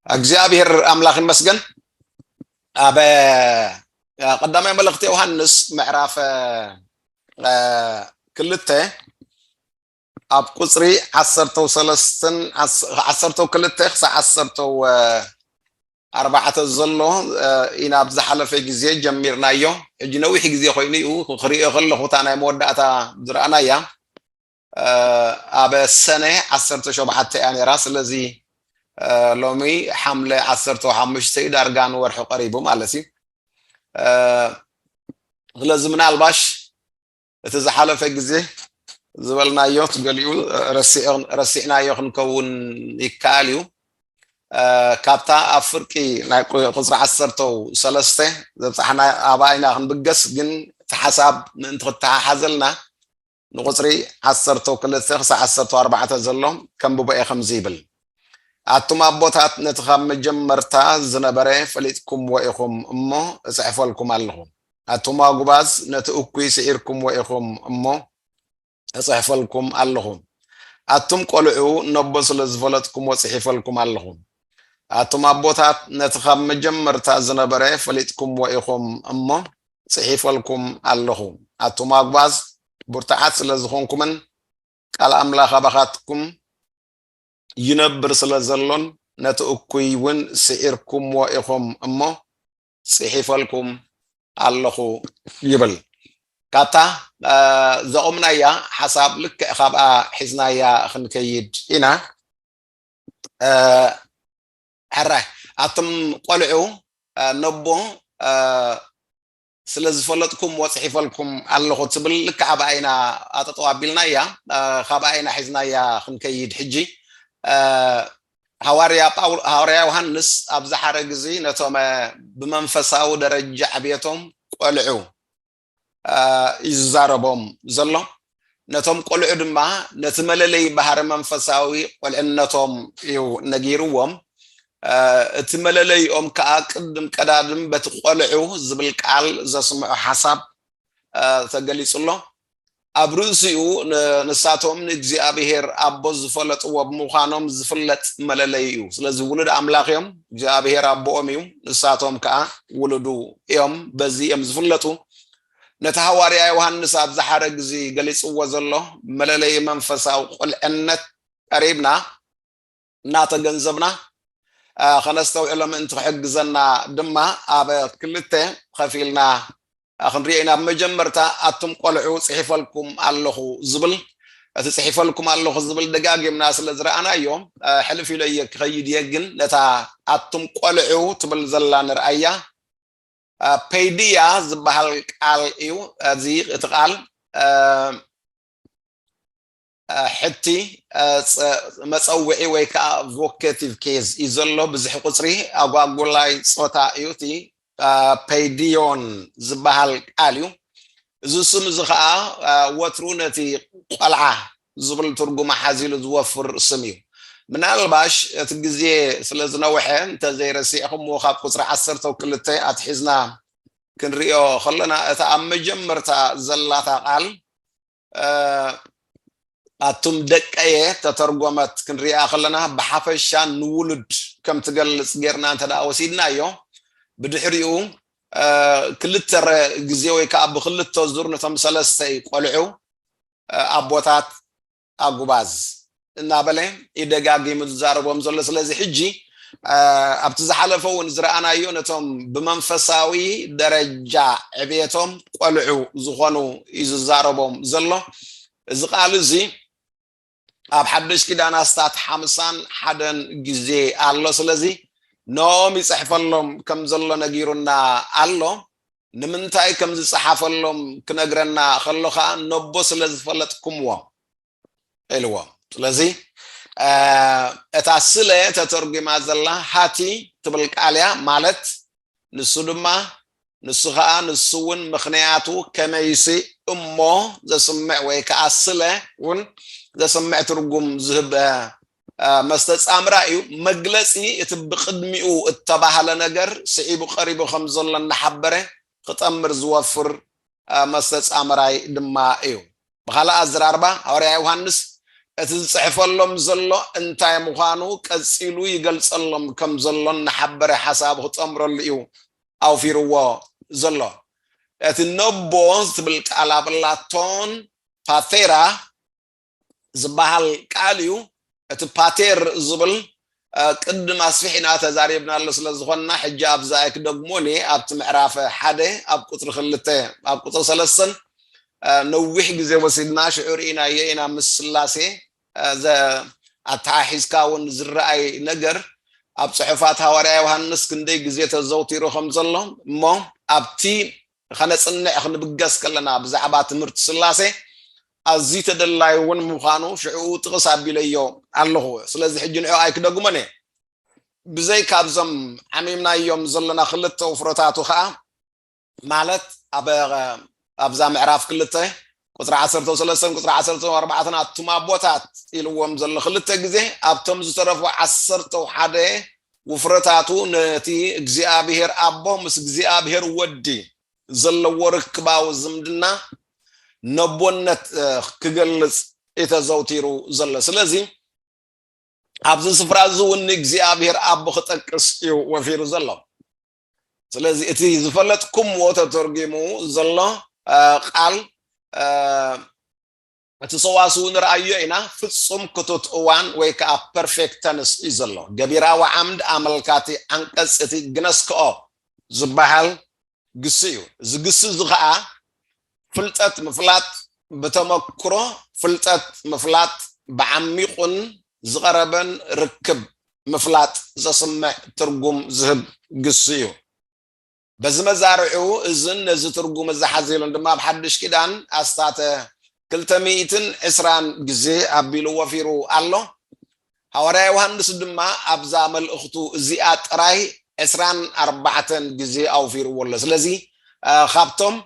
እግዚኣብሔር ኣምላኽ ይመስገን ኣብ ቀዳማይ መልእኽቲ ዮሃንስ ምዕራፍ ክልተ ኣብ ቁጽሪ ዓሰርተው ሰለስትን ዓሰርተው ክልተ ክሳዕ ዓሰርተው ኣርባዕተ ዘሎ ኢና ኣብ ዝሓለፈ ግዜ ጀሚርናዮ ሕጂ ነዊሕ ግዜ ኮይኑ እዩ ክሪኦ ከለኹ እታ ናይ መወዳእታ ዝረኣናያ ኣብ ሰነ ዓሰርተ ሸውዓተ እያ ነይራ ስለዚ ሎሚ ሓምለ ዓሰርተ ሓሙሽተ እዩ ዳርጋ ንወርሒ ቀሪቡ ማለት እዩ ስለዚ ምናልባሽ እቲ ዝሓለፈ ግዜ ዝበልናዮት ገሊኡ ረሲዕናዮ ክንከውን ይከኣል እዩ። ካብታ ኣብ ፍርቂ ናይ ቁፅሪ ዓሰርተው ሰለስተ ዘብፃሕና ኣባ ኢና ክንብገስ ግን እቲ ሓሳብ ምእንቲ ክተሓሓዘልና ንቁፅሪ ዓሰርተው ክልተ ክሳዕ ዓሰርተው ኣርባዕተ ዘሎ ከንብቦ እየ ከምዚ ይብል ኣቱም ኣቦታት ነቲ ካብ መጀመርታ ዝነበረ ፈሊጥኩምዎ ኢኹም እሞ እፅሕፈልኩም ኣለኹ ኣቱም ኣጉባዝ ነቲ እኩይ ስዒርኩምዎ ኢኹም እሞ እጽሕፈልኩም ኣለኹ ኣቱም ቆልዑ ነቦ ስለ ዝፈለጥኩምዎ ጽሒፈልኩም ኣለኹ ኣቱም ኣቦታት ነቲ ካብ መጀመርታ ዝነበረ ፈሊጥኩምዎ ኢኹም እሞ ጽሒፈልኩም ኣለኹ ኣቱም ኣጉባዝ ብርቱዓት ስለ ዝኾንኩምን ቃል ኣምላኽ ኣባኻትኩም ይነብር ስለ ዘሎን ነቲ እኩይ እውን ስዒርኩምዎ ኢኹም እሞ ጽሒፈልኩም ኣለኹ ይብል። ካብታ ዘቑምናያ ሓሳብ ልክዕ ካብኣ ሒዝናያ ክንከይድ ኢና። ሕራይ ኣቱም ቆልዑ ነቦ ስለ ዝፈለጥኩም ወፅሒፈልኩም ኣለኹ ትብል ልክዕ ኣብኣ ኢና ኣጠጠው ኣቢልናያ ካብኣ ኢና ሒዝናያ ክንከይድ ሕጂ ሃዋርያ ጳውሎ ሃዋርያ ዮሃንስ ኣብዚ ሓረግ እዚ ነቶም ብመንፈሳዊ ደረጃ ዕብየቶም ቆልዑ እዩ ዝዛረቦም ዘሎ ነቶም ቆልዑ ድማ ነቲ መለለይ ባህሪ መንፈሳዊ ቆልዕነቶም እዩ ነጊርዎም እቲ መለለይኦም ከዓ ቅድም ቀዳድም በቲ ቆልዑ ዝብል ቃል ዘስምዑ ሓሳብ ተገሊጹ ኣሎ ኣብ ርእሲኡ ንሳቶም ንእግዚኣብሔር ኣቦ ዝፈለጥዎ ብምዃኖም ዝፍለጥ መለለዩ እዩ። ስለዚ ውሉድ ኣምላኽ እዮም፣ እግዚኣብሔር ኣቦኦም እዩ፣ ንሳቶም ከኣ ውሉዱ እዮም፣ በዚ እዮም ዝፍለጡ። ነቲ ሃዋርያ ዮሃንስ ኣብዚ ሓረግ እዚ ገሊጽዎ ዘሎ መለለዩ መንፈሳዊ ቁልዕነት ቀሪብና፣ እናተገንዘብና ከነስተውዕሎ ምእንቲ ክሕግዘና ድማ ኣብ ክልተ ኸፊልና ክንሪኦ ኢና። ብመጀመርታ ኣቱም ቆልዑ ጽሒፈልኩም ኣለኹ ዝብል እቲ ጽሒፈልኩም ኣለኹ ዝብል ደጋጊምና ስለ ዝረኣናዮ ሕልፍ ኢሎ እየ ክኸይድ እየ። ግን ነታ ኣቱም ቆልዑ ትብል ዘላ ንርኣያ። ፔድያ ዝበሃል ቃል እዩ እዚ እቲ ቃል ሕቲ መጸውዒ ወይ ከኣ ቮኬቲቭ ኬዝ እዩ ዘሎ፣ ብዝሒ ቁጽሪ ኣጓጉላይ ጾታ እዩ፣ እቲ ፐይዲዮን ዝበሃል ቃል እዩ፣ እዚ ስም እዚ ከኣ ወትሩ ነቲ ቆልዓ ዝብል ትርጉም ሓዚሉ ዝወፍር ስም እዩ። ምናልባሽ እቲ ግዜ ስለ ዝነውሐ እንተ ዘይረሲዕኩምዎ ካብ ቁጽሪ ዓሰርተው ክልተ ኣትሒዝና ክንርእዮ ከሎና እታ ኣብ መጀመርታ ዘላታ ቃል ኣቱም ደቀየ ተተርጎመት ክንሪኣ ከለና ብሓፈሻ ንውሉድ ከም ትገልጽ ጌርና እንተ ወሲድናዮ ብድሕሪኡ ክልተ ግዜ ወይ ከዓ ብክልተ ዙር ነቶም ሰለስተ ቆልዑ ኣቦታት ኣጉባዝ እናበለ እዩ ደጋጊሙ ዝዛረቦም ዘሎ። ስለዚ ሕጂ ኣብቲ ዝሓለፈ እውን ዝረኣናዮ ነቶም ብመንፈሳዊ ደረጃ ዕብየቶም ቆልዑ ዝኾኑ እዩ ዝዛረቦም ዘሎ። እዚ ቃል እዚ ኣብ ሓደሽ ኪዳን ኣስታት ሓምሳን ሓደን ግዜ ኣሎ። ስለዚ ንኦም ይፅሕፈሎም ከም ዘሎ ነጊሩና ኣሎ። ንምንታይ ከም ዝፀሓፈሎም ክነግረና ከሎ ከዓ ነቦ ስለ ዝፈለጥኩምዎም ኢልዎም ስለዚ እታ ስለ ተተርጒማ ዘላ ሃቲ ትብል ቃል እያ ማለት ንሱ ድማ ንሱ ከዓ ንሱ እውን ምክንያቱ ከመይሲ እሞ ዘስምዕ ወይ ከዓ ስለ እውን ዘስምዕ ትርጉም ዝህብ መስተጻምራ እዩ መግለጺ እቲ ብቅድሚኡ እተባህለ ነገር ስዒቡ ቀሪቡ ከም ዘሎ እናሓበረ ኽጠምር ዝወፍር መስተጻምራይ ድማ እዩ። ብኻልእ ኣዝራርባ ሃዋርያ ዮሃንስ እቲ ዝጽሕፈሎም ዘሎ እንታይ ምዃኑ ቀጺሉ ይገልጸሎም ከም ዘሎን ንሓበረ ሓሳብ ኽጠምረሉ እዩ ኣውፊርዎ ዘሎ። እቲ ነቦ ዝትብል ቃል ኣብ ላቶን ፓቴራ ዝበሃል ቃል እዩ። እቲ ፓቴር ዝብል ቅድም ኣስፊሕና ተዛሪብናሉ ስለ ዝኾንና ሕጂ ኣብዚ ኣይክደግሞን እየ። ኣብቲ ምዕራፍ ሓደ ኣብ ቁጽሪ ክልተ ኣብ ቁጽሪ ሰለስተን ነዊሕ ግዜ ወሲድና ሽዑ ርኢናዮ ኢና ምስ ስላሴ ኣተሓሒዝካ እውን ዝረኣይ ነገር ኣብ ጽሑፋት ሃዋርያ ዮሃንስ ክንደይ ግዜ ተዘውቲሩ ከም ዘሎ እሞ ኣብቲ ንኸነጽንዕ ክንብገስ ከለና ብዛዕባ ትምህርቲ ስላሴ ኣዝዩ ተደላዩ እውን ምዃኑ ሽዕኡ ጥቕስ ኣቢለዮ ኣለኹ ስለዚ ሕጂ ንዕኡ ኣይክደግሞን እየ ብዘይካ ኣብዞም ዓሚምናዮም ዘለና ክልተ ውፍረታቱ ከኣ ማለት ኣብ ኣብዛ ምዕራፍ ክልተ ቁጽሪ ዓሰርተው ሰለስተን ቁጽሪ ዓሰርተው ኣርባዕተን ኣቱም ኣቦታት ኢልዎም ዘሎ ክልተ ግዜ ኣብቶም ዝተረፉ ዓሰርተው ሓደ ውፍረታቱ ነቲ እግዚኣብሔር ኣቦ ምስ እግዚኣብሔር ወዲ ዘለዎ ርክባዊ ዝምድና ነቦነት ክገልጽ ኢተዘውቲሩ ዘሎ ስለዚ ኣብዚ ስፍራ እዚ እውን ንእግዚኣብሔር ኣቦ ክጠቅስ እዩ ወፊሩ ዘሎ ስለዚ እቲ ዝፈለጥኩምዎ ተተርጒሙ ዘሎ ቃል እቲ ሰዋስው ንርኣዮ ኢና ፍጹም ክቱት እዋን ወይ ከኣ ፐርፌክት ተንስ እዩ ዘሎ። ገቢራዊ ዓምድ ኣመልካቲ ዓንቀጽ እቲ ግነስክኦ ዝበሃል ግሲ እዩ። እዚ ግሲ እዚ ከኣ ፍልጠት ምፍላጥ ብተመክሮ ፍልጠት ምፍላጥ ብዓሚቑን ዝቐረበን ርክብ ምፍላጥ ዘስምዕ ትርጉም ዝህብ ግሲ እዩ። በዚ መዛርዕኡ እዝን ነዚ ትርጉም እዚ ሓዚሉን ድማ ኣብ ሓድሽ ኪዳን ኣስታተ ክልተ ሚእትን ዕስራን ግዜ ኣቢሉ ወፊሩ ኣሎ። ሃዋርያ ዮሃንስ ድማ ኣብዛ መልእኽቱ እዚኣ ጥራይ ዕስራን ኣርባዕተን ግዜ ኣውፊርዎ ኣሎ። ስለዚ ካብቶም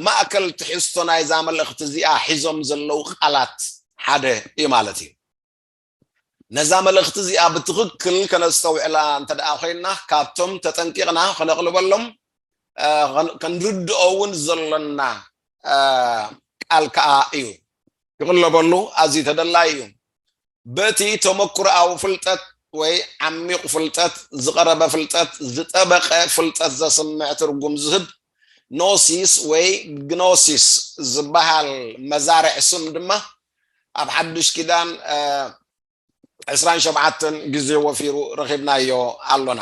ማእከል ትሕዝቶ ናይዛ መልእኽቲ እዚኣ ሒዞም ዘለዉ ቃላት ሓደ እዩ ማለት እዩ። ነዛ መልእኽቲ እዚኣ ብትኽክል ከነስተውዕላ እንተደኣ ኮይና ካብቶም ተጠንቂቕና ከነቕልበሎም ከንርድኦ እውን ዘሎና ቃል ከዓ እዩ። ክቕለበሉ ኣዝዩ ተደላዪ እዩ። በቲ ተመክሮኣዊ ፍልጠት ወይ ዓሚቕ ፍልጠት፣ ዝቐረበ ፍልጠት፣ ዝጠበቐ ፍልጠት ዘስምዕ ትርጉም ዝህብ ኖሲስ ወይ ግኖሲስ ዝበሃል መዛርዕ ስም ድማ ኣብ ሓዱሽ ኪዳን ዕስራን ሸውዓተን ግዜ ወፊሩ ረኺብናዮ ኣሎና።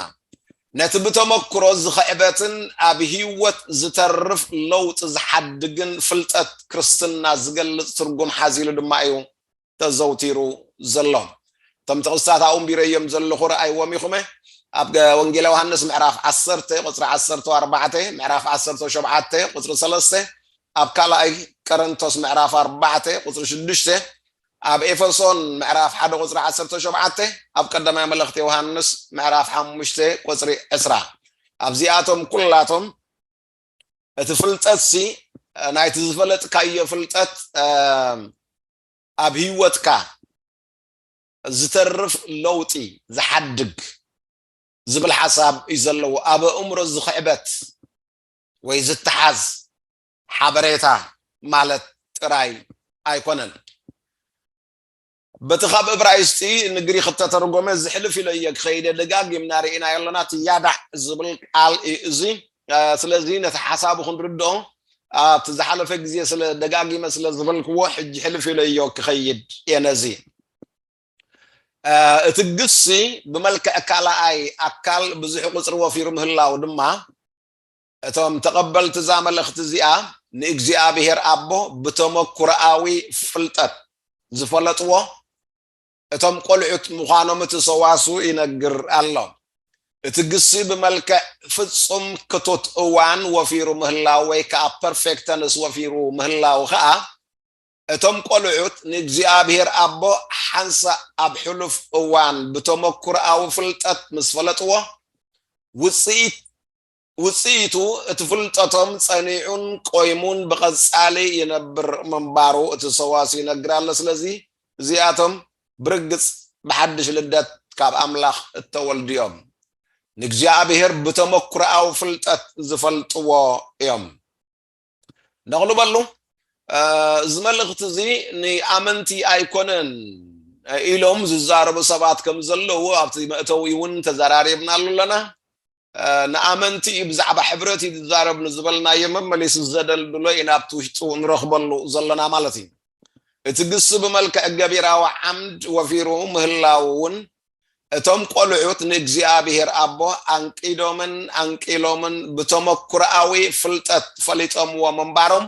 ነቲ ብተመክሮ ዝኽዕበትን ኣብ ህይወት ዝተርፍ ለውጢ ዝሓድግን ፍልጠት ክርስትና ዝገልጽ ትርጉም ሓዚሉ ድማ እዩ ተዘውቲሩ ዘሎ። እቶም ጥቕስታት ኣብኡ ኣንቢረዮም ዘለኹ ርኣይዎም ኢኹመ፣ ኣብ ወንጌለ ዮሃንስ ምዕራፍ ዓሰርተ ቁጽሪ ዓሰርተው ኣርባዕተ፣ ምዕራፍ ዓሰርተው ሸውዓተ ቁጽሪ ሰለስተ፣ ኣብ ካልኣይ ቀረንቶስ ምዕራፍ ኣርባዕተ ቁጽሪ ሽዱሽተ፣ ኣብ ኤፈሶን ምዕራፍ ሓደ ቁጽሪ ዓሰርተው ሸውዓተ፣ ኣብ ቀዳማይ መልእኽቲ ዮሃንስ ምዕራፍ ሓሙሽተ ቁጽሪ ዕስራ። ኣብዚኣቶም ኩላቶም እቲ ፍልጠትሲ ናይቲ ዝፈለጥካዮ ፍልጠት ኣብ ህይወትካ ዝተርፍ ለውጢ ዝሓድግ ዝብል ሓሳብ እዩ ዘለዎ ኣብ ኣእምሮ ዝኽዕበት ወይ ዝተሓዝ ሓበሬታ ማለት ጥራይ ኣይኮነን በቲ ካብ እብራይስጢ ንግሪኽ እተተርጎመ ዝሕልፍ ኢለ እየ ክኸይደ ደጋጊምና ርኢናዮ ኣለና እቲ ያዳዕ ዝብል ቃል እዩ እዚ ስለዚ ነቲ ሓሳቡ ክንርድኦ ኣብቲ ዝሓለፈ ግዜ ስለ ደጋጊመ ስለ ዝበልክዎ ሕጂ ሕልፍ ኢለ እዮ ክኸይድ እየ ነዚ እቲ ግሲ ብመልክዕ ካልኣይ ኣካል ብዙሕ ቁፅሪ ወፊሩ ምህላው ድማ እቶም ተቐበልቲ እዛ መልእኽቲ እዚኣ ንእግዚኣብሔር ኣቦ ብተመኩሮኣዊ ፍልጠት ዝፈለጥዎ እቶም ቆልዑት ምዃኖም እቲ ሰዋስው ይነግር ኣሎ። እቲ ግሲ ብመልክዕ ፍጹም ክቱት እዋን ወፊሩ ምህላው ወይ ከኣ perfect tense ወፊሩ ምህላው ከኣ እቶም ቆልዑት ንእግዚኣብሔር ኣቦ ሓንሳእ ኣብ ሕሉፍ እዋን ብተመኩሮኣዊ ፍልጠት ምስ ፈለጥዎ ውጽኢት ውጽኢቱ እቲ ፍልጠቶም ጸኒዑን ቆይሙን ብቐጻሊ ይነብር ምንባሩ እቲ ሰዋስው ይነግር ኣሎ። ስለዚ እዚኣቶም ብርግጽ ብሓድሽ ልደት ካብ ኣምላኽ እተወልዱ እዮም። ንእግዚኣብሄር ብተመኩሮኣዊ ፍልጠት ዝፈልጥዎ እዮም። ደቕሉ በሉ እዚ መልእኽቲ እዚ ንኣመንቲ ኣይኮነን ኢሎም ዝዛረቡ ሰባት ከም ዘለዉ ኣብቲ መእተዊ እውን ተዘራሪብናሉ ኣለና ንኣመንቲ እዩ ብዛዕባ ሕብረት እዩ ዝዛረብ ንዝበልናዮ መመሊሱ ዘደልድሎ ኢና ኣብቲ ውሽጡ ንረኽበሉ ዘለና ማለት እዩ እቲ ግሲ ብመልክዕ ገቢራዊ ዓምድ ወፊሩ ምህላው እውን እቶም ቆልዑት ንእግዚኣብሔር ኣቦ ኣንቂዶምን ኣንቂሎምን ብተመኩሮኣዊ ፍልጠት ፈሊጦምዎ ምንባሮም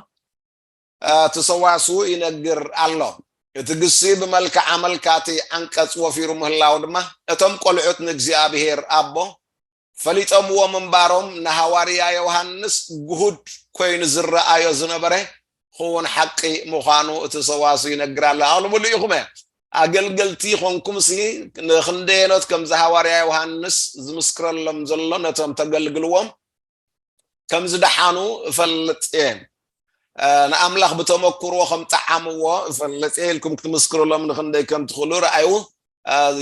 እቲ ሰዋስው ይነግር ኣሎ። እቲ ግሲ ብመልክዕ ኣመልካቲ ዓንቀጽ ወፊሩ ምህላው ድማ እቶም ቆልዑት ንእግዚኣብሔር ኣቦ ፈሊጦምዎ ምንባሮም ንሃዋርያ ዮሃንስ ግሁድ ኮይኑ ዝረኣዮ ዝነበረ ኽዉን ሓቒ ምዃኑ እቲ ሰዋስው ይነግራለ ኣቕልቡሉ ኢኹመ ኣገልገልቲ ኾንኩምሲ ንኽንደየኖት ከምዚ ሃዋርያ ዮሃንስ ዝምስክረሎም ዘሎ ነቶም ተገልግልዎም ከም ዝደሓኑ እፈልጥ እየ ንኣምላኽ ብተመክሮ ከም ጠዓምዎ ፈልጥ ኢልኩም ክትምስክርሎም ንክንደይ ከም ትኽእሉ ረኣዩ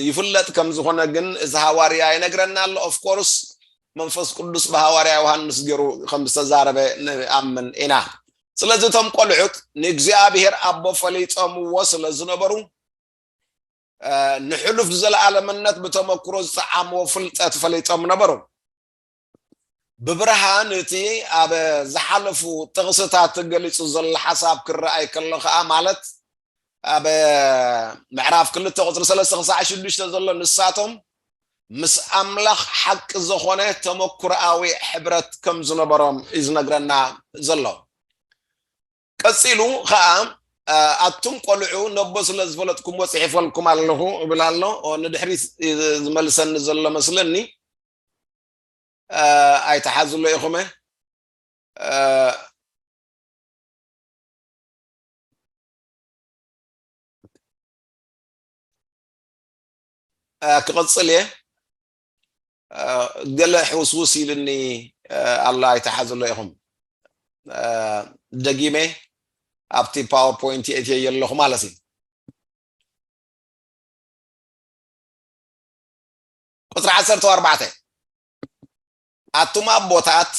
ይፍለጥ ከም ዝኾነ ግን እዚ ሃዋርያ ይነግረና ኣሎ ኦፍኮርስ መንፈስ ቅዱስ ብሃዋርያ ዮሃንስ ገይሩ ከም ዝተዛረበ ንኣምን ኢና ስለዚ እቶም ቆልዑት ንእግዚኣብሔር ኣቦ ፈሊጦምዎ ስለ ዝነበሩ ንሕሉፍ ዘለኣለምነት ብተመክሮ ዝጠዓምዎ ፍልጠት ፈሊጦም ነበሩ ብብርሃን እቲ ኣብ ዝሓለፉ ጥቕስታት ገሊጹ ዘሎ ሓሳብ ክረኣይ ከሎ ከኣ ማለት ኣብ ምዕራፍ ክልተ ቁፅሪ ሰለስተ ክሳዕ ሽዱሽተ ዘሎ ንሳቶም ምስ ኣምላኽ ሓቂ ዝኾነ ተመኩሮኣዊ ሕብረት ከም ዝነበሮም እዩ ዝነግረና ዘሎ ቀጺሉ ከኣ ኣቱም ቆልዑ ነቦ ስለ ዝፈለጥኩምዎ ጽሒፈልኩም ኣለኹ እብል ኣሎ ንድሕሪት ዝመልሰኒ ዘሎ መስለኒ ኣይትሓዝሉ ኢኹመ ክቕፅል እየ ገለ ሕውስውስ ኢልኒ ኣሎ ኣይትሓዝሎ ኢኹም ደጊመ ኣብቲ ፓወርፖይንት የእትየ የለኹ ማለት እዩ ቁጽሪ ዓሰርተ ኣርባዕተ ኣቱም ኣቦታት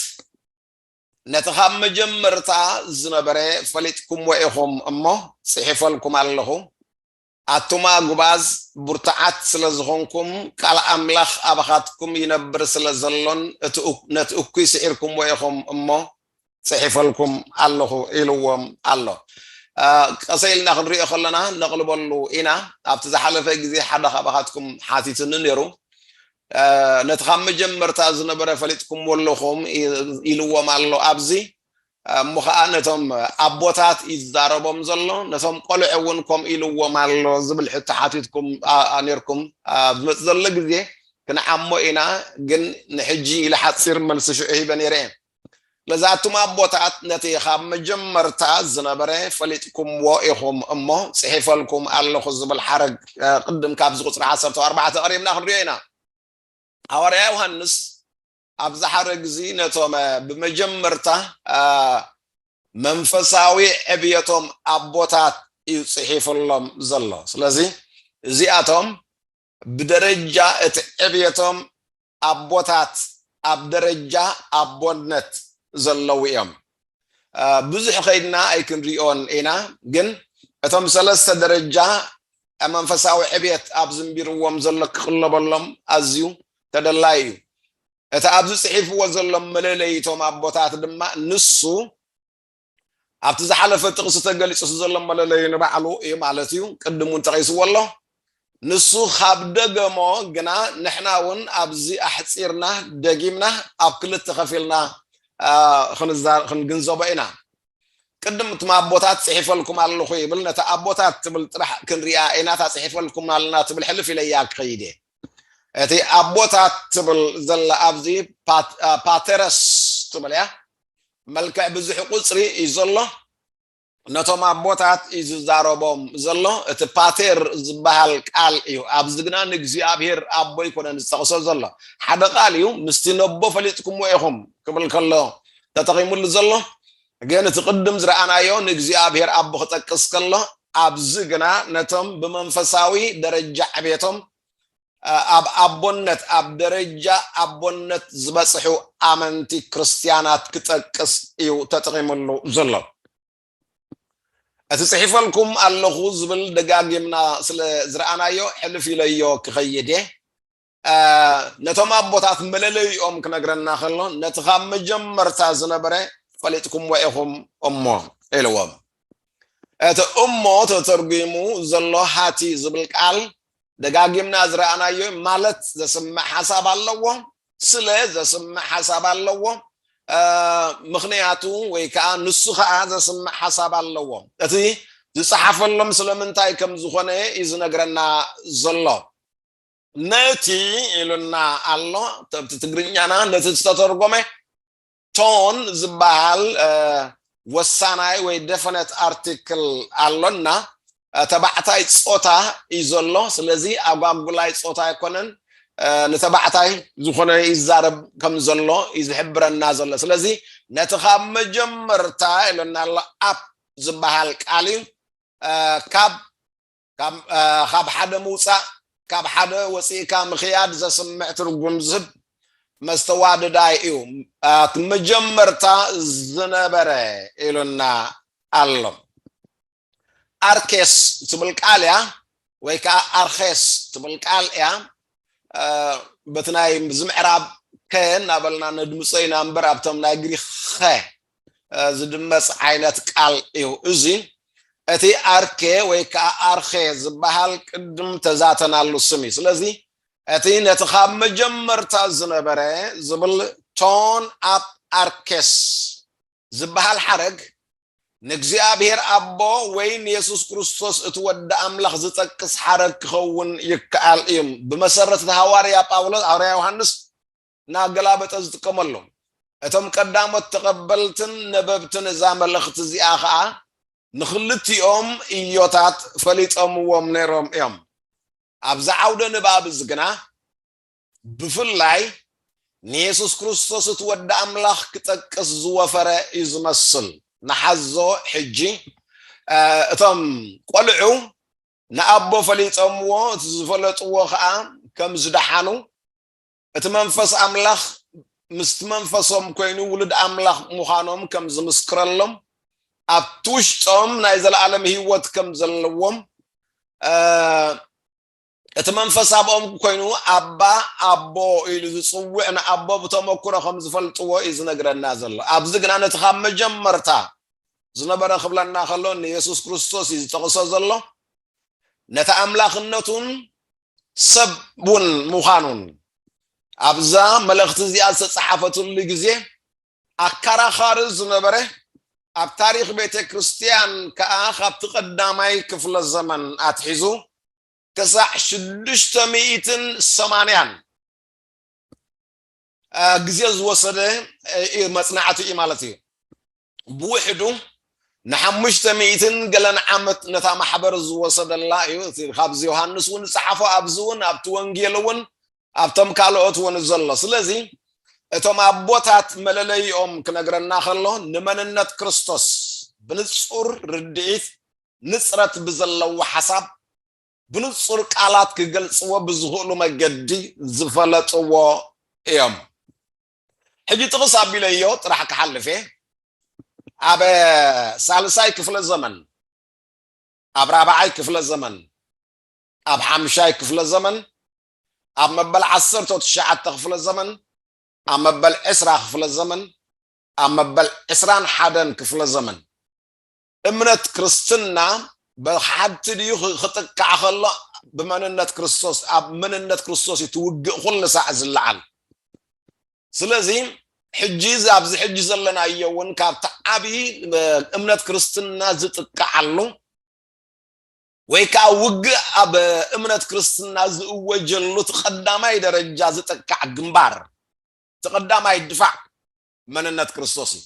ነቲ ኻብ መጀመርታ ዝነበረ ፈሊጥኩምዎ ኢኹም እሞ ጽሒፈልኩም ኣለኹ ኣቱም ኣጉባዝ ብርቱዓት ስለ ዝኾንኩም ቃል ኣምላኽ ኣባኻትኩም ይነብር ስለ ዘሎን ነቲ እኩይ ስዒርኩምዎ ኢኹም እሞ ጽሒፈልኩም ኣለኹ ኢልዎም ኣሎ። ቀሰይ ኢልና ክንሪኦ ከለና ነቕልበሉ ኢና። ኣብቲ ዝሓለፈ ግዜ ሓደ ካባኻትኩም ሓቲቱኒ ነይሩ። ነቲ ካብ መጀመርታ ዝነበረ ፈሊጥኩምዎ ኣለኹም ኢልዎም ኣሎ ኣብዚ። እሞ ኸኣ ነቶም ኣቦታት እዩ ዝዛረቦም ዘሎ። ነቶም ቆልዑ እውን ከምኡ ኢልዎም ኣሎ ዝብል ሕቶ ሓቲትኩም ነይርኩም። ኣብ ዝመጽእ ዘሎ ግዜ ክንዓሞ ኢና፣ ግን ንሕጂ ኢለ ሓጺር መልሲ ሽዑ ሂበ ነይረ እየ። ስለዚ ኣቱም ኣቦታት ነቲ ኻብ መጀመርታ ዝነበረ ፈሊጥኩምዎ ኢኹም እሞ ጽሒፈልኩም ኣለኹ ዝብል ሓረግ ቅድም ካብዚ ቁጽሪ ዓሰርተ ኣርባዕተ ቀሪብና ክንሪኦ ኢና። ሃዋርያ ዮሃንስ ኣብዚ ሓረግ እዚ ነቶም ብመጀመርታ መንፈሳዊ ዕብየቶም ኣቦታት እዩ ጽሒፍሎም ዘሎ። ስለዚ እዚኣቶም ብደረጃ እቲ ዕብየቶም ኣቦታት ኣብ ደረጃ ኣቦነት ዘለዉ እዮም። ብዙሕ ከይድና ኣይክንሪኦን ኢና ግን እቶም ሰለስተ ደረጃ መንፈሳዊ ዕብየት ኣብ ዝንቢርዎም ዘሎ ክቕለበሎም ኣዝዩ ተደላይ እዩ። እቲ ኣብዚ ጽሒፍዎ ዘሎ መለለይቶም ኣቦታት ድማ ንሱ ኣብቲ ዝሓለፈ ጥቕሲ ተገሊጹ ዘሎ መለለዩ ንባዕሉ እዩ ማለት እዩ፣ ቅድም እውን ተቐይስዎ ኣሎ። ንሱ ኻብ ደገሞ ግና ንሕና እውን ኣብዚ ኣሕጺርና ደጊምና ኣብ ክልተ ኸፊልና ኽንግንዘቦ ኢና። ቅድም እትም ኣቦታት ጽሒፈልኩም ኣለኹ ይብል፣ ነታ ኣቦታት ትብል ጥራሕ ክንሪኣ ኢና፣ እታ ጽሒፈልኩም ኣለና ትብል ሕልፍ ኢለያ ክኸይድ እየ። እቲ ኣቦታት ትብል ዘላ ኣብዚ ፓተረስ ትብል እያ፣ መልክዕ ብዙሕ ቁጽሪ እዩ ዘሎ ነቶም ኣቦታት እዩ ዝዛረቦም ዘሎ እቲ ፓቴር ዝበሃል ቃል እዩ ኣብዚ ግና ንእግዚኣብሄር ኣቦ ይኮነን ዝጠቕሶ ዘሎ ሓደ ቃል እዩ ምስቲ ነቦ ፈሊጥኩምዎ ኢኹም ክብል ከሎ ተጠቒሙሉ ዘሎ ግን እቲ ቅድም ዝረኣናዮ ንእግዚኣብሄር ኣቦ ክጠቅስ ከሎ ኣብዚ ግና ነቶም ብመንፈሳዊ ደረጃ ዕቤቶም ኣብ ኣቦነት ኣብ ደረጃ ኣቦነት ዝበጽሑ ኣመንቲ ክርስትያናት ክጠቅስ እዩ ተጠቒምሉ ዘሎ። እቲ ጽሒፈልኩም ኣለኹ ዝብል ደጋጊምና ስለ ዝረኣናዮ ሕልፍ ኢለዮ ክኸይድ እየ። ነቶም ኣቦታት መለለይኦም ክነግረና ከሎ ነቲ ካብ መጀመርታ ዝነበረ ፈሊጥኩምዎ ኢኹም እሞ ኢልዎም። እቲ እሞ ተተርጒሙ ዘሎ ሃቲ ዝብል ቃል ደጋጊምና ዝረኣናዮ ማለት ዘስምዕ ሓሳብ ኣለዎ ስለ ዘስምዕ ሓሳብ ኣለዎ ምክንያቱ ወይ ከዓ ንሱ ከዓ ዘስምዕ ሓሳብ ኣለዎ እቲ ዝፀሓፈሎም ስለምንታይ ከም ዝኾነ እዩ ዝነግረና ዘሎ ነቲ ኢሉና ኣሎ ተብቲ ትግርኛና ነቲ ዝተተርጎመ ቶን ዝበሃል ወሳናይ ወይ ደፈነት ኣርቲክል ኣሎና። ተባዕታይ ጾታ እዩ ዘሎ። ስለዚ ኣጓጉላይ ጾታ ኣይኮነን። ንተባዕታይ ዝኾነ ይዛረብ ከም ዘሎ እዩ ዝሕብረና ዘሎ። ስለዚ ነቲ ካብ መጀመርታ ኢሎና ኣሎ ኣፕ ዝበሃል ቃል እዩ ካብ ካብ ሓደ ምውጻእ ካብ ሓደ ወጺእካ ምክያድ ዘስምዕ ትርጉም ዝህብ መስተዋድዳይ እዩ ኣት መጀመርታ ዝነበረ ኢሉና ኣሎ ኣርኬስ ትብል ቃል እያ ወይ ከዓ ኣርኬስ ትብል ቃል እያ በቲ ናይ ዝምዕራብ ከ እናበልና ነድምፀ ኢና እምበር ኣብቶም ናይ ግሪክ ኸ ዝድመጽ ዓይነት ቃል እዩ እዚ። እቲ ኣርኬ ወይ ከኣ ኣርኼ ዝበሃል ቅድም ተዛተናሉ ስም እዩ። ስለዚ እቲ ነቲ ካብ መጀመርታ ዝነበረ ዝብል ቶን ኣፕ ኣርኬስ ዝበሃል ሓረግ ንእግዚኣብሔር ኣቦ ወይ ንየሱስ ክርስቶስ እቲ ወዲ ኣምላኽ ዝጠቅስ ሓረግ ክኸውን ይከኣል እዩ። ብመሰረት እቲ ሃዋርያ ጳውሎስ ሃዋርያ ዮሃንስ እናገላበጠ ዝጥቀመሎም። እቶም ቀዳሞት ተቐበልትን ነበብትን እዛ መልእኽቲ እዚኣ ኸኣ ንኽልቲኦም እዮታት ፈሊጦምዎም ነይሮም እዮም። ኣብዚ ዓውደ ንባብ እዚ ግና ብፍላይ ንየሱስ ክርስቶስ እቲ ወዲ ኣምላኽ ክጠቅስ ዝወፈረ እዩ ዝመስል። ንሓዞ ሕጂ እቶም ቆልዑ ንኣቦ ፈሊጦምዎ እቲ ዝፈለጥዎ ኸኣ ከም ዝደሓኑ እቲ መንፈስ ኣምላኽ ምስቲ መንፈሶም ኮይኑ ውሉድ ኣምላኽ ምዃኖም ከም ዝምስክረሎም ኣብቲ ውሽጦም ናይ ዘለኣለም ህይወት ከም ዘለዎም እቲ መንፈስ ኣብኦም ኮይኑ ኣባ ኣቦ ኢሉ ዝፅውዕ ንኣቦ ብተመክሮ ከም ዝፈልጥዎ እዩ ዝነግረና ዘሎ ኣብዚ ግና ነቲ ካብ መጀመርታ ዝነበረ ክብለና ከሎ ንየሱስ ክርስቶስ እዩ ዝጠቕሶ ዘሎ ነቲ ኣምላኽነቱን ሰብ እውን ምዃኑን ኣብዛ መልእኽቲ እዚኣ ዝተፀሓፈትሉ ግዜ ኣከራኻሪ ዝነበረ ኣብ ታሪክ ቤተ ክርስትያን ከዓ ካብቲ ቀዳማይ ክፍለ ዘመን ኣትሒዙ ክሳዕ ሽዱሽተ ሚእትን ሰማንያን ግዜ ዝወሰደ መጽናዕቲ እዩ ማለት እዩ። ብውሕዱ ንሓሙሽተ ሚእትን ገለን ዓመት ነታ ማሕበር ዝወሰደላ እዩ። እቲ ካብዚ ዮሃንስ እውን ዝጸሓፎ ኣብዚ እውን ኣብቲ ወንጌል እውን ኣብቶም ካልኦት እውን ዘሎ ስለዚ እቶም ኣቦታት መለለይኦም ክነግረና ከሎ ንመንነት ክርስቶስ ብንጹር ርድኢት ንጽረት ብዘለዎ ሓሳብ ብንጹር ቃላት ክገልጽዎ ብዝኽእሉ መገዲ ዝፈለጥዎ እዮም። ሕጂ ጥቕስ ኣቢለዮ ጥራሕ ክሓልፍ እየ። ኣብ ሳልሳይ ክፍለ ዘመን፣ ኣብ ራብዓይ ክፍለ ዘመን፣ ኣብ ሓምሻይ ክፍለ ዘመን፣ ኣብ መበል ዓሰርተ ትሽዓተ ክፍለ ዘመን፣ ኣብ መበል ዕስራ ክፍለ ዘመን፣ ኣብ መበል ዕስራን ሓደን ክፍለ ዘመን እምነት ክርስትና ብሓቲ ድዩ ክጥቃዕ ከሎ ብመንነት ክርስቶስ ኣብ መንነት ክርስቶስ እዩ ትውግእ ኩሉ ሳዕ ዝለዓል ስለዚ ሕጂ እዚ ኣብዚ ሕጂ ዘለናዮ እውን ካብቲ ዓብዪ እምነት ክርስትና ዝጥቃዓሉ ወይ ከዓ ውግእ ኣብ እምነት ክርስትና ዝእወጀሉ እቲ ቀዳማይ ደረጃ ዝጥቃዕ ግንባር እቲ ቀዳማይ ድፋዕ መንነት ክርስቶስ እዩ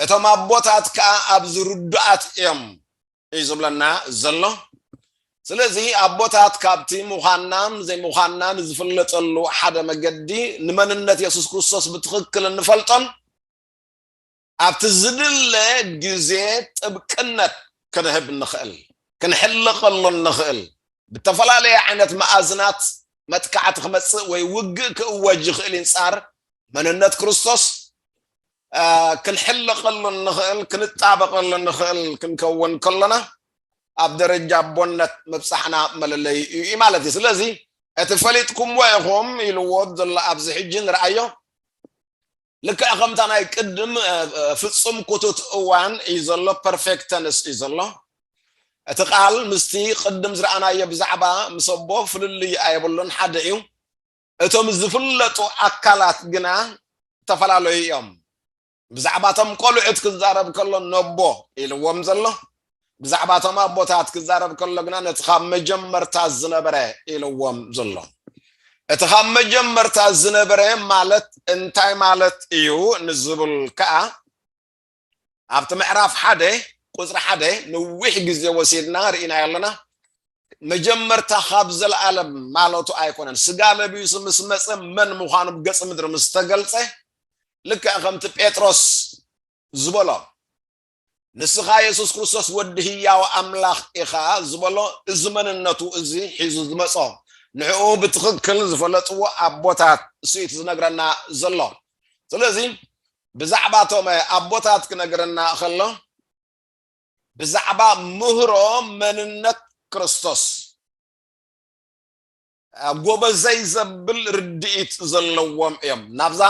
እቶም ኣቦታት ከዓ ኣብዚ ርዱኣት እዮም እዩ ዝብለና ዘሎ ስለዚ ኣቦታት ካብቲ ምዃናም ዘይምዃናም ዝፍለጠሉ ሓደ መገዲ ንመንነት የሱስ ክርስቶስ ብትኽክል እንፈልጦን ኣብቲ ዝድለ ግዜ ጥብቅነት ክንህብ ንኽእል ክንሕልቐሉ ንኽእል ብተፈላለየ ዓይነት መኣዝናት መጥቃዕቲ ክመፅእ ወይ ውግእ ክእወጅ ይኽእል ይንፃር መንነት ክርስቶስ ክንሕለቐሉ እንኽእል ክንጣበቐሉ እንኽእል ክንከውን ከሎና ኣብ ደረጃ ኣቦነት ምብፃሕና መለለዩ እዩ ማለት እዩ ስለዚ እቲ ፈሊጥኩምዎ ኢኹም ኢልዎ ዘሎ ኣብዚ ሕጂ ንርኣዮ ልክዕ ከምታ ናይ ቅድም ፍፁም ኩቱት እዋን እዩ ዘሎ ፐርፌክት ተንስ እዩ ዘሎ እቲ ቃል ምስቲ ቅድም ዝረኣናዮ ብዛዕባ ምስ ኣቦ ፍልልይ ኣይብሉን ሓደ እዩ እቶም ዝፍለጡ ኣካላት ግና ዝተፈላለዩ እዮም። ብዛዕባ እቶም ቆልዑት ክዛረብ ከሎ ነቦ ኢልዎም ዘሎ፣ ብዛዕባ እቶም ኣቦታት ክዛረብ ከሎ ግና ነቲ ካብ መጀመርታ ዝነበረ ኢልዎም ዘሎ። እቲ ካብ መጀመርታ ዝነበረ ማለት እንታይ ማለት እዩ ንዝብል ከዓ ኣብቲ ምዕራፍ ሓደ ቁፅሪ ሓደ ነዊሕ ግዜ ወሲድና ርኢናዮ ኣለና መጀመርታ ካብ ዘለኣለም ማለቱ ኣይኮነን ስጋ ለቢሱ ምስ መፀ መን ምዃኑ ብገፅ ምድሪ ምስ ተገልፀ ልክዕ ከምቲ ጴጥሮስ ዝበሎ ንስኻ የሱስ ክርስቶስ ወዲ ህያው ኣምላኽ ኢኻ ዝበሎ እዚ መንነቱ እዚ ሒዙ ዝመፆ ንዕኡ ብትኽክል ዝፈለጥዎ ኣቦታት ስኢት ዝነግረና ዘሎ ስለዚ ብዛዕባ እቶም ኣቦታት ክነግረና እኸሎ ብዛዕባ ምህሮ መንነት ክርስቶስ ጎበዘይ ዘብል ርድኢት ዘለዎም እዮም ናብዛ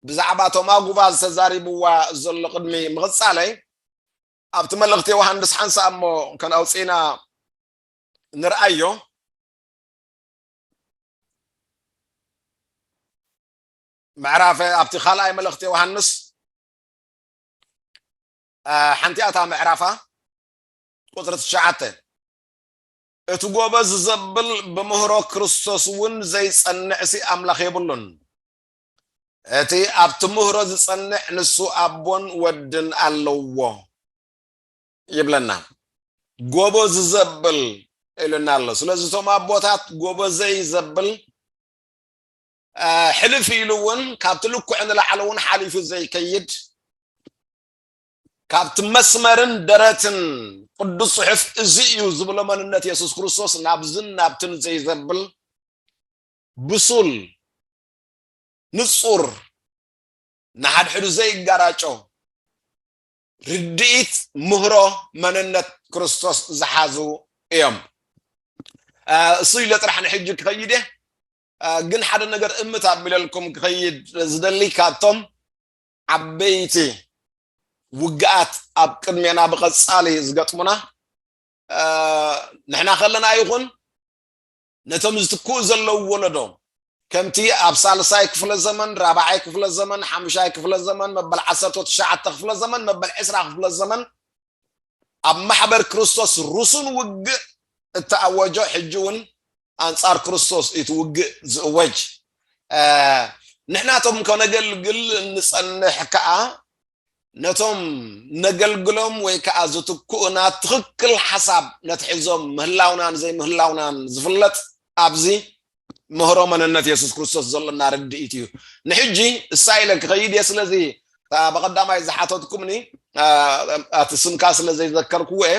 ብዛዕባ እቶም ኣጉባ ዝተዛሪብዋ ዘሎ ቅድሚ ምቕፃለይ ኣብቲ መልእኽቲ ዮሃንስ ሓንሳ እሞ ከነውፅኢና ንርኣዮ ምዕራፍ ኣብቲ ካልኣይ መልእኽቲ ዮሃንስ ሓንቲኣ እታ ምዕራፋ ቁፅሪ ትሽዓተ እቲ ጎበዝ ዘብል ብምህሮ ክርስቶስ እውን ዘይጸንዕሲ ኣምላኽ የብሉን እቲ ኣብቲ ምህሮ ዝጸንዕ ንሱ ኣቦን ወድን ኣለዎ ይብለና ጎበዝ ዘብል ኢሉና ኣሎ ስለዚ እቶም ኣቦታት ጎበዘይ ዘብል ሕልፍ ኢሉ እውን ካብቲ ልኩዕ ንላዕሊ እውን ሓሊፉ ዘይከይድ ካብቲ መስመርን ደረትን ቅዱስ ጽሑፍ እዚ እዩ ዝብሎ መንነት የሱስ ክርስቶስ ናብዝን ናብትን ዘይዘብል ብሱል ንጹር ንሓድሕዱ ዘይጋራጮ ርድኢት ምህሮ መንነት ክርስቶስ ዝሓዙ እዮም እሱ ኢለ ጥራሕ ንሕጂ ክኸይድ እየ ግን ሓደ ነገር እምት ኣቢለልኩም ክኸይድ ዝደሊ ካብቶም ዓበይቲ ውግኣት ኣብ ቅድሜና ብቐጻሊ ዝገጥሙና ንሕና ከለና ይኹን ነቶም ዝትክኡ ዘለዉ ወለዶ ከምቲ ኣብ ሳልሳይ ክፍለ ዘመን ራብዓይ ክፍለ ዘመን ሓሙሻይ ክፍለ ዘመን መበል ዓሰርተ ትሽዓተ ክፍለ ዘመን መበል ዕስራ ክፍለ ዘመን ኣብ ማሕበር ክርስቶስ ርሱን ውግእ እተኣወጆ ሕጂ እውን ኣንጻር ክርስቶስ እዩ እቲ ውግእ ዝእወጅ ንሕናቶም ከነገልግል እንጸንሕ ከኣ ነቶም ነገልግሎም ወይ ከኣ ዝትክኡና ትኽክል ሓሳብ ነትሕዞም ምህላውናን ዘይምህላውናን ዝፍለጥ ኣብዚ ምህሮ መንነት የሱስ ክርስቶስ ዘሎና ርድኢት እዩ ንሕጂ እሳ ኢለ ክኸይድ እየ ስለዚ በቐዳማይ ዝሓተትኩምኒ ኣቲ ስምካ ስለ ዘይዘከርክዎ እየ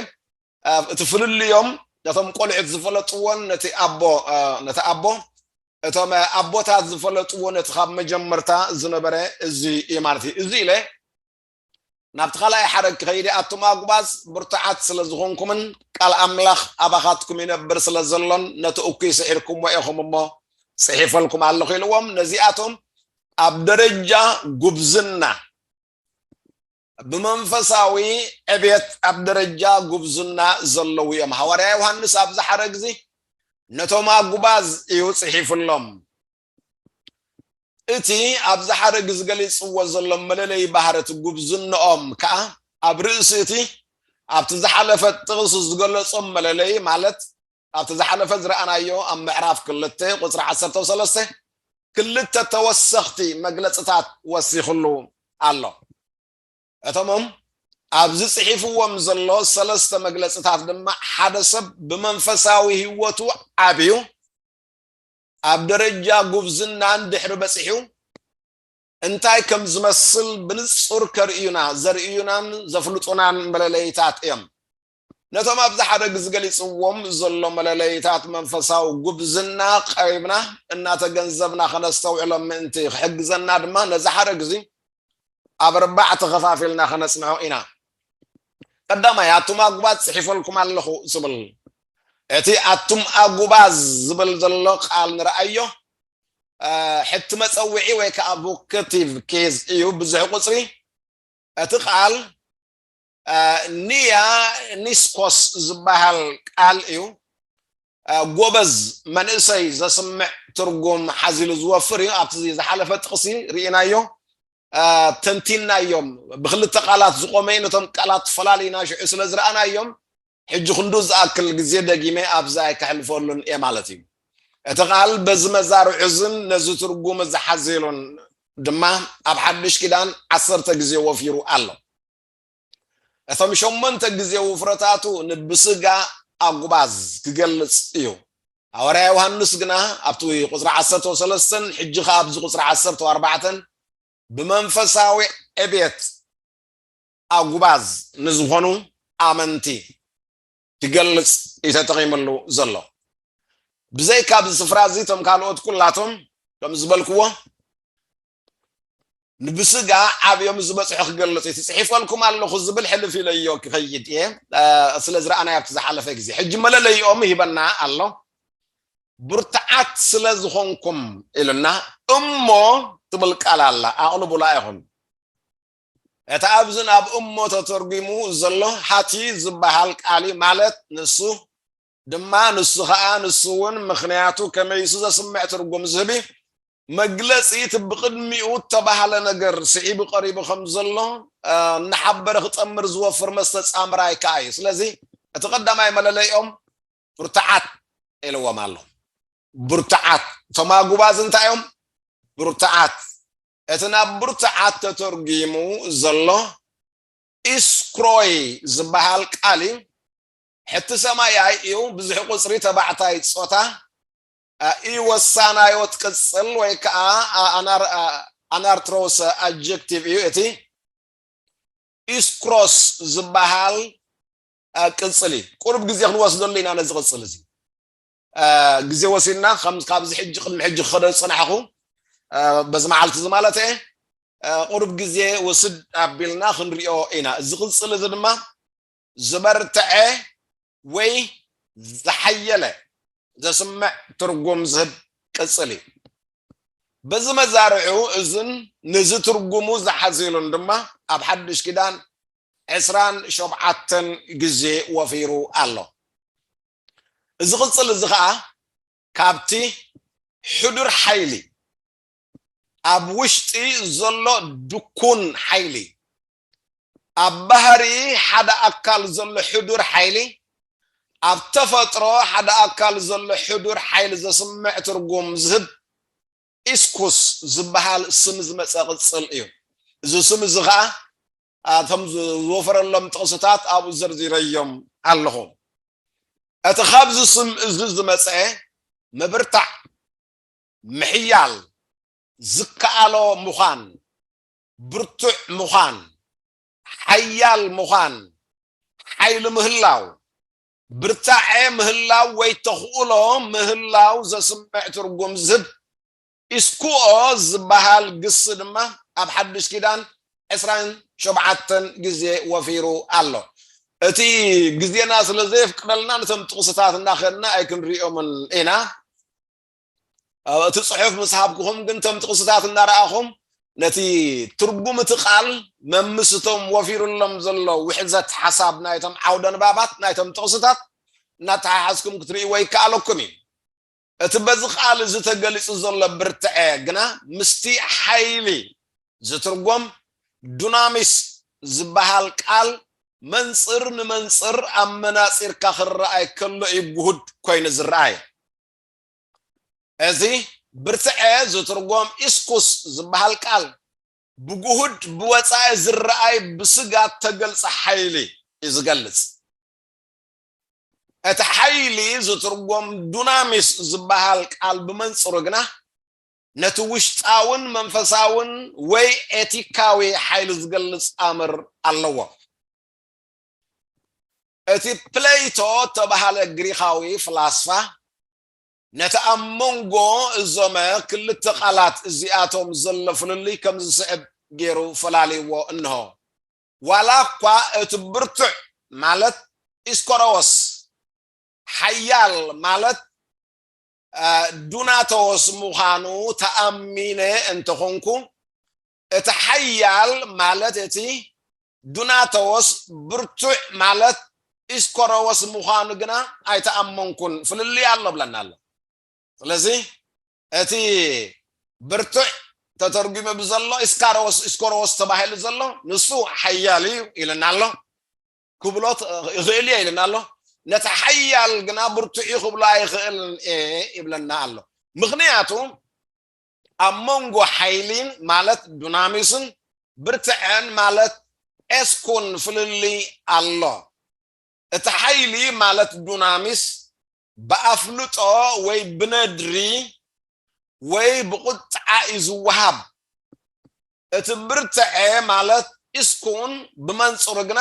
እቲ ፍልልዮም ነቶም ቆልዑት ዝፈለጥዎን ነቲ ኣቦ ነቲ ኣቦ እቶም ኣቦታት ዝፈለጥዎ ነቲ ካብ መጀመርታ ዝነበረ እዚ እዩ ማለት እዩ እዚ ኢለ ናብቲ ካልኣይ ሓረግ ክኸይድ እየ፣ ኣቱም ኣጕባዝ፣ ብርቱዓት ስለ ዝዀንኩምን ቃል ኣምላኽ ኣባኻትኩም ይነብር ስለ ዘሎን፣ ነቲ እኩይ ስዒርኩምዎ ኢኹም እሞ፣ ጽሒፈልኩም ኣለኹ ኢልዎም። ነዚኣቶም ኣብ ደረጃ ጕብዝና፣ ብመንፈሳዊ ዕብየት ኣብ ደረጃ ጕብዝና ዘለዉ እዮም። ሃዋርያ ዮሃንስ ኣብዚ ሓረግ እዚ ነቶም ኣጕባዝ እዩ ጽሒፍሎም። እቲ ኣብዚ ሓረግ ዝገሊጽዎ ዘሎ መለለዪ ባህርት ጉብዝንኦም ከኣ ኣብ ርእሲ እቲ ኣብቲ ዝሓለፈ ጥቕስ ዝገለጾም መለለዪ ማለት ኣብቲ ዝሓለፈ ዝረኣናዮ ኣብ ምዕራፍ ክልተ ቁጽሪ ዓሰርተው ሰለስተ ክልተ ተወሰኽቲ መግለጽታት ወሲኽሉ ኣሎ። እቶምም ኣብዚ ጽሒፍዎም ዘሎ ሰለስተ መግለጽታት ድማ ሓደ ሰብ ብመንፈሳዊ ህይወቱ ዓብዩ ኣብ ደረጃ ጉብዝና እንድሕሪ በጺሑ እንታይ ከም ዝመስል ብንጹር ከርእዩና ዘርእዩናን ዘፍልጡናን መለለይታት እዮም። ነቶም ኣብዚ ሓረግ ዝገሊጽዎም ዘሎ መለለይታት መንፈሳዊ ጉብዝና ቀሪብና እናተገንዘብና ከነስተውዕሎም ምእንቲ ክሕግዘና ድማ ነዚ ሓረግ እዚ ኣብ ኣርባዕተ ከፋፊልና ከነጽንዖ ኢና። ቀዳማይ፣ ኣቱም ኣጉባዝ ጽሒፈልኩም ኣለኹ ዝብል፣ እቲ ኣቱም ኣጉባዝ ዝብል ዘሎ ቃል ንርኣዮ፣ ሕቲ መጸውዒ ወይ ከኣ ቮከቲቭ ኬዝ እዩ፣ ብዙሕ ቁጽሪ። እቲ ቃል ኒያ ኒስኮስ ዝበሃል ቃል እዩ ጎበዝ መንእሰይ ዘስምዕ ትርጉም ሓዚሉ ዝወፍር እዩ ኣብቲ ዝሓለፈ ጥቕሲ ርኢናዮ ተንቲናዮም ብክልተ ቃላት ዝቆመ ነቶም ቃላት ፈላሊና ሽዑ ስለ ዝረኣናዮም ሕጂ ክንዱ ዝኣክል ግዜ ደጊመ ኣብዛ ኣይከሕልፈሉን እየ ማለት እዩ እቲ ቃል በዚ መዛርዑዝን ነዚ ትርጉም ዝሓዘሉን ድማ ኣብ ሓድሽ ኪዳን ዓሰርተ ግዜ ወፊሩ ኣሎ እቶም ሸሞንተ ግዜ ውፍረታቱ ንብስጋ ኣጉባዝ ክገልጽ እዩ። ሃዋርያ ዮሃንስ ግና ኣብቲ ቁጽሪ ዓሰርተ ወሰለስተን ሕጂ ከኣ ኣብዚ ቁጽሪ ዓሰርተ ወኣርባዕተን ብመንፈሳዊ ዕብየት ኣጉባዝ ንዝኾኑ ኣመንቲ ክገልጽ እዩ ተጠቒምሉ ዘሎ። ብዘይካ ኣብዚ ስፍራ እዚ እቶም ካልኦት ኩላቶም ከም ዝበልክዎ ንብስጋ ዓብዮም ዝበጽሑ ክገልጽ እቲ ጽሒፈልኩም ኣለኹ ዝብል ሕልፍ ኢለዮ ክኸይድ እየ ስለ ዝረኣናዮ ኣብቲ ዝሓለፈ ግዜ ሕጂ መለለይኦም ሂበና ኣሎ ብርትዓት ስለ ዝኾንኩም ኢሉና እሞ ትብል ቃል ኣላ ኣቕልቡላ ኢኹም እቲ ኣብዚ ናብ እሞ ተተርጒሙ ዘሎ ሃቲ ዝበሃል ቃሊ ማለት ንሱ ድማ ንሱ ኸኣ ንሱ እውን ምኽንያቱ ከመይሱ ዘስምዕ ትርጉም ዝህቢ መግለጺ እቲ ብቕድሚኡ እተባህለ ነገር ስዒቡ ቀሪቡ ከም ዘሎ እናሓበረ ክጸምር ዝወፍር መስተጻምራይ ከኣ እዩ ስለዚ እቲ ቀዳማይ መለለይኦም ብርቱዓት ኢልዎም ኣሎ ብርቱዓት እቶም ኣጉባዝ እንታይ እዮም ብርቱዓት እቲ ናብ ብርቱዓት ተተርጒሙ ዘሎ ኢስክሮይ ዝበሃል ቃል እዩ ሕቲ ሰማይ ኣይ እዩ ብዙሒ ቁጽሪ ተባዕታይ ጾታ ኣይ ወሳናዮት ቅጽል ወይ ከኣ ኣናርትሮሰ ኣጀክቲቭ እዩ እቲ ኢስክሮስ ዝበሃል ቅጽል እዩ ቁርብ ግዜ ክንወስደሉ ኢና ነዚ ቅጽል እዚ ግዜ ወሲድና ካብዚ ሕጂ ቅድሚ ሕጂ ክኸደ ዝፅናሕኹ በዚ መዓልቲ እዚ ማለት እየ ቁርብ ግዜ ወስድ ኣቢልና ክንሪኦ ኢና እዚ ቅፅል እዚ ድማ ዝበርትዐ ወይ ዝሓየለ ዘስምዕ ትርጉም ዝህብ ቅፅል እዩ። በዚ መዛርዑ እዝን ነዚ ትርጉሙ ዝሓዚሉን ድማ ኣብ ሓዱሽ ኪዳን ዕስራን ሸውዓተን ግዜ ወፊሩ ኣሎ። እዚ ቅፅል እዚ ከዓ ካብቲ ሕዱር ሓይሊ ኣብ ውሽጢ ዘሎ ድኩን ሓይሊ ኣብ ባህሪ ሓደ ኣካል ዘሎ ሕዱር ሓይሊ ኣብ ተፈጥሮ ሓደ ኣካል ዘሎ ሕዱር ሓይሊ ዘስምዕ ትርጉም ዝህብ ኢስኩስ ዝበሃል ስም ዝመጸ ቅጽል እዩ። እዚ ስም እዚ ኸኣ እቶም ዝወፈረሎም ጥቕስታት ኣብኡ ዘርዚረዮም ኣለኹ። እቲ ካብዚ ስም እዚ ዝመጸ ምብርታዕ፣ ምሕያል፣ ዝከኣሎ ምዃን፣ ብርቱዕ ምዃን፣ ሓያል ምዃን፣ ሓይሊ ምህላው፣ ብርታዐ ምህላው ወይ ተኽእሎ ምህላው ዘስምዕ ትርጉም ዝህብ ኢስኩኦ ዝበሃል ግሲ ድማ ኣብ ሓዱሽ ኪዳን ዕስራን ሾብዓተን ግዜ ወፊሩ ኣሎ። እቲ ግዜና ስለ ዘየፍቅደልና ነቶም ጥቕስታት እናኸድና ኣይክንርእዮምን ኢና። እቲ ፅሑፍ ምስ ሃብኩኹም ግን እቶም ጥቕስታት እናረኣኹም ነቲ ትርጉም እቲ ቃል መምስቶም ወፊሩሎም ዘሎ ውሕዘት ሓሳብ ናይቶም ዓውደ ንባባት ናይቶም ጥቕስታት እናተሓሓዝኩም ክትርእይዎ ይከኣለኩም እዩ እቲ በዚ ቃል እዚ ተገሊፁ ዘሎ ብርትዐ ግና ምስቲ ሓይሊ ዝትርጎም ዱናሚስ ዝበሃል ቃል መንፅር ንመንፅር ኣመናፂርካ ክረኣይ ከሎ እዩ ጉሁድ ኮይኑ ዝረኣየ እዚ ብርትዐ ዝትርጎም ኢስኩስ ዝበሃል ቃል ብግሁድ ብወጻኢ ዝረኣይ ብስጋ እተገልጸ ሓይሊ እዩ ዝገልጽ። እቲ ሓይሊ ዝትርጎም ዱናሚስ ዝበሃል ቃል ብመንጽሩ ግና ነቲ ውሽጣውን መንፈሳውን ወይ ኤቲካዊ ሓይሊ ዝገልጽ ኣምር ኣለዎ። እቲ ፕለይቶ እተባህለ ግሪኻዊ ፍላስፋ፣ ነቲ ኣብ መንጎ እዞመ ክልተ ቓላት እዚኣቶም ዘሎ ፍልልይ ከም ዝስዕብ ገይሩ ፈላልይዎ እንሆ፣ ዋላ እኳ እቲ ብርቱዕ ማለት ኢስኮሮዎስ፣ ሓያል ማለት ዱናቶዎስ ምዃኑ ተኣሚነ እንተ ኹንኩ፣ እቲ ሓያል ማለት እቲ ዱናተዎስ ብርቱዕ ማለት ኢስኮረዎስ ምዃኑ ግና ኣይተኣመንኩን ፍልልይ ኣሎ ብለና ኣሎ ስለዚ እቲ ብርቱዕ ተተርጒመ ብዘሎ ኢስካረዎስ ኢስኮረዎስ ተባሂሉ ዘሎ ንሱ ሓያል እዩ ኢለና ኣሎ ክብሎ ይኽእል እየ ኢለና ኣሎ ነቲ ሓያል ግና ብርቱዕ እዩ ክብሎ ኣይኽእልን እየ ይብለና ኣሎ ምክንያቱ ኣብ መንጎ ሓይሊን ማለት ዱናሚስን ብርትዐን ማለት ኤስኩን ፍልልይ ኣሎ። እቲ ሓይሊ ማለት ዱናሚስ ብኣፍልጦ ወይ ብነድሪ ወይ ብቑጥዓ እዩ ዝወሃብ። እቲ ብርትዐ ማለት ኢስኩን ብመንጽሩ ግና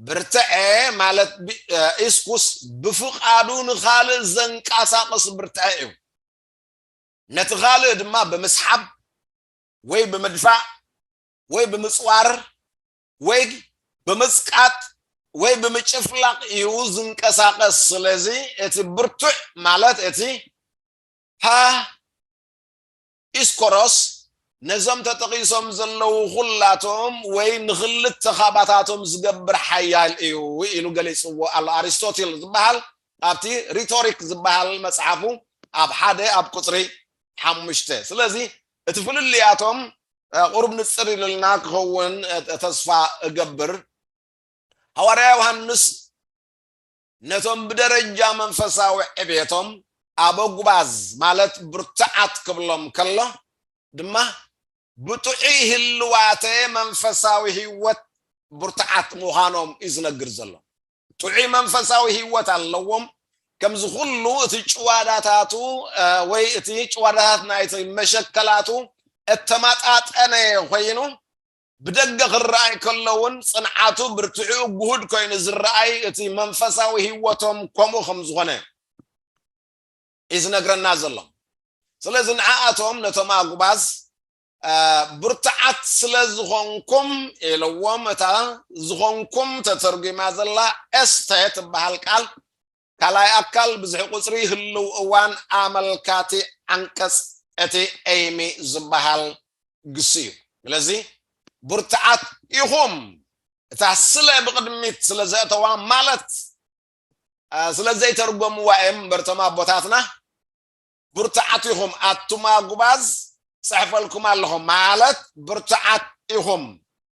ብርትዔ ማለት ብ- እ፣ ኢስኩስ ብፍቓዱ ንኻልእ ዘንቀሳቕስ ብርትዔ እዩ። ነቲ ኻልእ ድማ ብምስሓብ ወይ ብምድፋእ ወይ ብምጽዋር ወይ ብምጽቃጥ ወይ ብምጭፍላቕ እዩ ዝንቀሳቐስ። ስለዚ እቲ ብርቱዕ ማለት እቲ ሃ ኢስኮሮስ ነዞም ተጠቒሶም ዘለዉ ዅላቶም ወይ ንኽልተ ኻባታቶም ዚገብር ሓያል እዩ ኢሉ ገሊጽዎ ኣሎ። ኣሪስቶትል ዚብሃል ኣብቲ ሪቶሪክ ዚብሃል መጽሓፉ ኣብ ሓደ ኣብ ቍጽሪ ሓሙሽተ። ስለዚ እቲ ፍልልያቶም ቝሩብ ንጽር ኢሉልና ኪኸውን ተስፋ እገብር። ሃዋርያ ዮሃንስ ነቶም ብደረጃ መንፈሳዊ ዕብየቶም ኣበጉባዝ ማለት ብርቱዓት ክብሎም ከሎ ድማ ብጥዑይ ህልዋተ መንፈሳዊ ህይወት ብርቱዓት ምዃኖም እዩ ዝነግር ዘሎ። ጥዑይ መንፈሳዊ ህይወት ኣለዎም ከምዚ ኩሉ እቲ ጭዋዳታቱ ወይ እቲ ጭዋዳታት ናይቲ መሸከላቱ እተማጣጠነ ኮይኑ ብደገ ክረኣይ ከሎውን ጽንዓቱ ብርትዕኡ ግሁድ ኮይኑ ዝረኣይ እቲ መንፈሳዊ ህይወቶም ከምኡ ከም ዝኾነ እዩ ዝነግረና ዘሎ ስለዚ ንዓኣቶም ነቶም ኣጉባዝ ብርቱዓት ስለ ዝኾንኩም ኢልዎም እታ ዝኾንኩም ተተርጒማ ዘላ ኤስተ ትበሃል ቃል ካልኣይ ኣካል ብዝሒ ቁጽሪ ህልው እዋን ኣመልካቲ ዓንቀጽ እቲ ኤይሚ ዝበሃል ግሲ እዩ። ስለዚ ብርቱዓት ኢኹም እታ ስለ ብቕድሚት ስለ ዘእተዋ ማለት ስለ ዘይተርጎምዋ እዮም እምበር እቶም ኣቦታትና ብርቱዓት ኢኹም ኣቱም ኣጉባዝ ጽሕፈልኩም ኣለኹም ማለት ብርቱዓት ኢኹም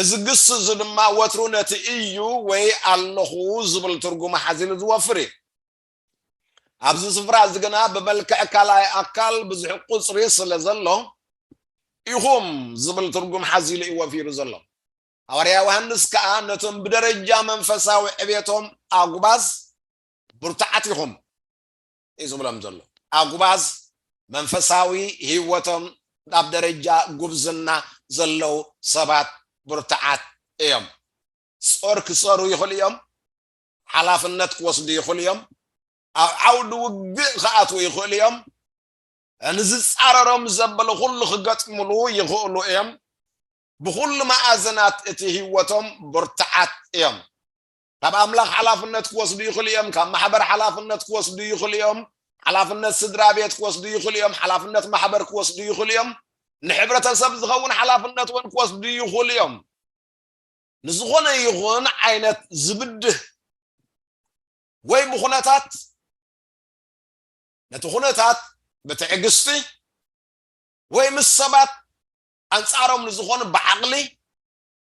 እዚ ግስ እዚ ድማ ወትሩ ነቲ እዩ ወይ ኣለኹ ዝብል ትርጉም ሓዚሉ ዝወፍር እዩ። ኣብዚ ስፍራ እዚ ግና ብመልክዕ ካልኣይ ኣካል ብዝሒ ቁጽሪ ስለ ዘሎ ኢኹም ዝብል ትርጉም ሓዚሉ እዩ ወፊሩ ዘሎ። ሃዋርያ ዮሃንስ ከኣ ነቶም ብደረጃ መንፈሳዊ ዕቤቶም ኣጉባዝ ብርቱዓት ኢኹም፣ እዩ ዝብሎም ዘሎ። ኣጉባዝ መንፈሳዊ ህይወቶም ኣብ ደረጃ ጉብዝና ዘለዉ ሰባት ብርቱዓት እዮም። ጾር ክጸሩ ይኽእሉ እዮም፣ ሓላፍነት ክወስዱ ይኽእሉ እዮም፣ ኣብ ዓውዲ ውግእ ክኣትዉ ይኽእሉ እዮም፣ ንዝጻረሮም ዘበለ ኩሉ ክገጥምሉ ይኽእሉ እዮም። ብኹሉ መኣዝናት እቲ ህይወቶም ብርቱዓት እዮም። ካብ ኣምላኽ ሓላፍነት ክወስዱ ይኽእሉ እዮም ካብ ማሕበር ሓላፍነት ክወስዱ ይኽእሉ እዮም ሓላፍነት ስድራ ቤት ክወስዱ ይኽእሉ እዮም ሓላፍነት ማሕበር ክወስዱ ይኽእሉ እዮም ንሕብረተሰብ ዝኸውን ሓላፍነት እውን ክወስዱ ይኽእሉ እዮም ንዝኾነ ይኹን ዓይነት ዝብድህ ወይ ብኩነታት ነቲ ኩነታት ብትዕግስቲ ወይ ምስ ሰባት ኣንጻሮም ንዝኾኑ ብዓቕሊ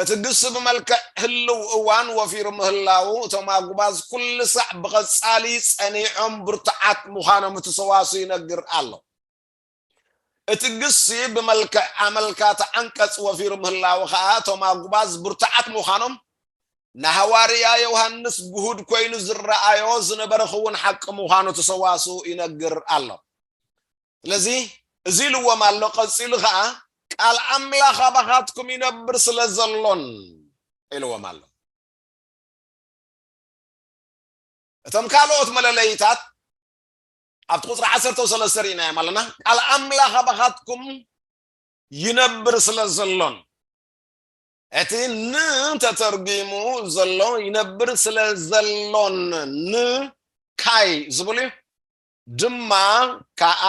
እቲ ግሲ ብመልክዕ ህልው እዋን ወፊሩ ምህላዉ እቶም ኣጉባዝ ኩሉ ሳዕ ብቐጻሊ ጸኒዖም ብርቱዓት ምዃኖም እቲ ሰዋስው ይነግር ኣሎ። እቲ ግሲ ብመልክዕ ኣመልካቲ ዓንቀጽ ወፊሩ ምህላዉ ከኣ እቶም ኣጉባዝ ብርቱዓት ምዃኖም ንሃዋርያ ዮውሃንስ ግሁድ ኮይኑ ዝረኣዮ ዝነበረ ክዉን ሓቂ ምዃኑ እቲ ሰዋስው ይነግር ኣሎ። ስለዚ እዚ ኢልዎም ኣሎ ቀጺሉ ከኣ ቃል ኣምላኽ ኣባኻትኩም ይነብር ስለ ዘሎን ኢልዎም ኣሎ። እቶም ካልኦት መለለይታት ኣብቲ ቁጽሪ ዓሰርተው ሰለስተ ርኢናዮም ኣለና ቃል ኣምላኽ ኣባኻትኩም ይነብር ስለ ዘሎን እቲ ን ተተርጒሙ ዘሎ ይነብር ስለ ዘሎን ን ካይ ዝብል እዩ ድማ ከኣ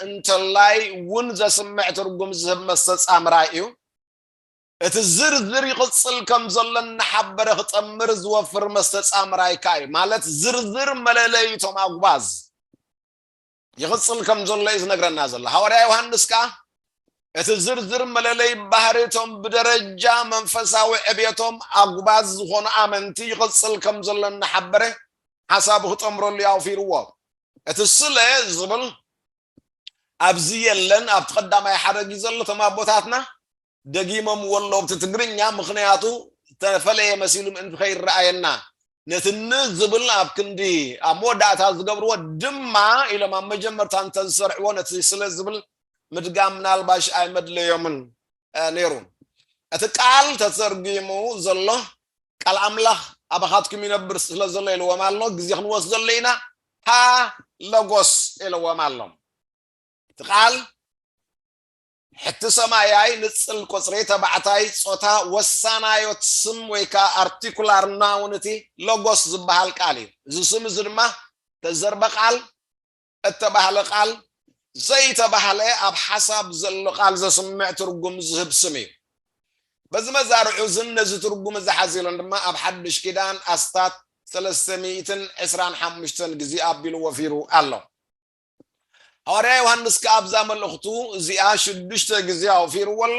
እንተላይ እውን ዘስምዕ ትርጉም ዝህብ መስተጻምራይ እዩ። እቲ ዝርዝር ይቕጽል ከም ዘሎ እናሓበረ ክጠምር ዝወፍር መስተጻምራይ ከኣ እዩ። ማለት ዝርዝር መለለይ እቶም ኣጉባዝ ይቕጽል ከም ዘሎ እዩ ዝነግረና ዘሎ። ሃዋርያ ዮሃንስ ከኣ እቲ ዝርዝር መለለይ ባህሪ እቶም ብደረጃ መንፈሳዊ ዕብየቶም ኣጉባዝ ዝኾኑ ኣመንቲ ይቕጽል ከም ዘሎ እናሓበረ ሓሳቡ ክጠምረሉ እዩ ኣውፊርዎ። እቲ ስለ ዝብል ኣብዚ የለን ኣብቲ ቀዳማይ ሓረግ እዩ ዘሎ እቶም ኣቦታትና ደጊሞምዎ ኣለዉ ብቲ ትግርኛ ምኽንያቱ ዝተፈለየ መሲሉ ምእንቲ ከይረኣየና ነቲ ን ዝብል ኣብ ክንዲ ኣብ መወዳእታ ዝገብርዎ ድማ ኢሎም ኣብ መጀመርታ እንተዝሰርዕዎ ነቲ ስለ ዝብል ምድጋም ምናልባሽ ኣይመድለዮምን ነይሩ እቲ ቃል ተተርጊሙ ዘሎ ቃል ኣምላኽ ኣባኻትኩም ይነብር ስለ ዘሎ ኢልዎም ኣሎ ግዜ ክንወስደሉ ኢና ሀ ለጎስ ኢልዎም ኣሎ እቲ ቃል ሕቲ ሰማያይ ንጽል ቁጽሪ ተባዕታይ ጾታ ወሳናዮት ስም ወይ ከዓ ኣርቲኩላር ናውን እቲ ለጎስ ዝበሃል ቃል እዩ እዚ ስም እዚ ድማ ተዘርበ ቃል እተባህለ ቃል ዘይተባህለ ኣብ ሓሳብ ዘሎ ቃል ዘስምዕ ትርጉም ዝህብ ስም እዩ። በዚ መዛርዑ እዝን ነዚ ትርጉም እዚ ሓዚ ኢሎን ድማ ኣብ ሓድሽ ኪዳን ኣስታት ሰለስተ ሚእትን ዕስራን ሓሙሽተን ግዜ ኣቢሉ ወፊሩ ኣሎ። ሃዋርያ ዮሃንስ ከኣ ኣብዛ መልእኽቱ እዚኣ ሽዱሽተ ግዜ ኣውፊርዎ ኣሎ።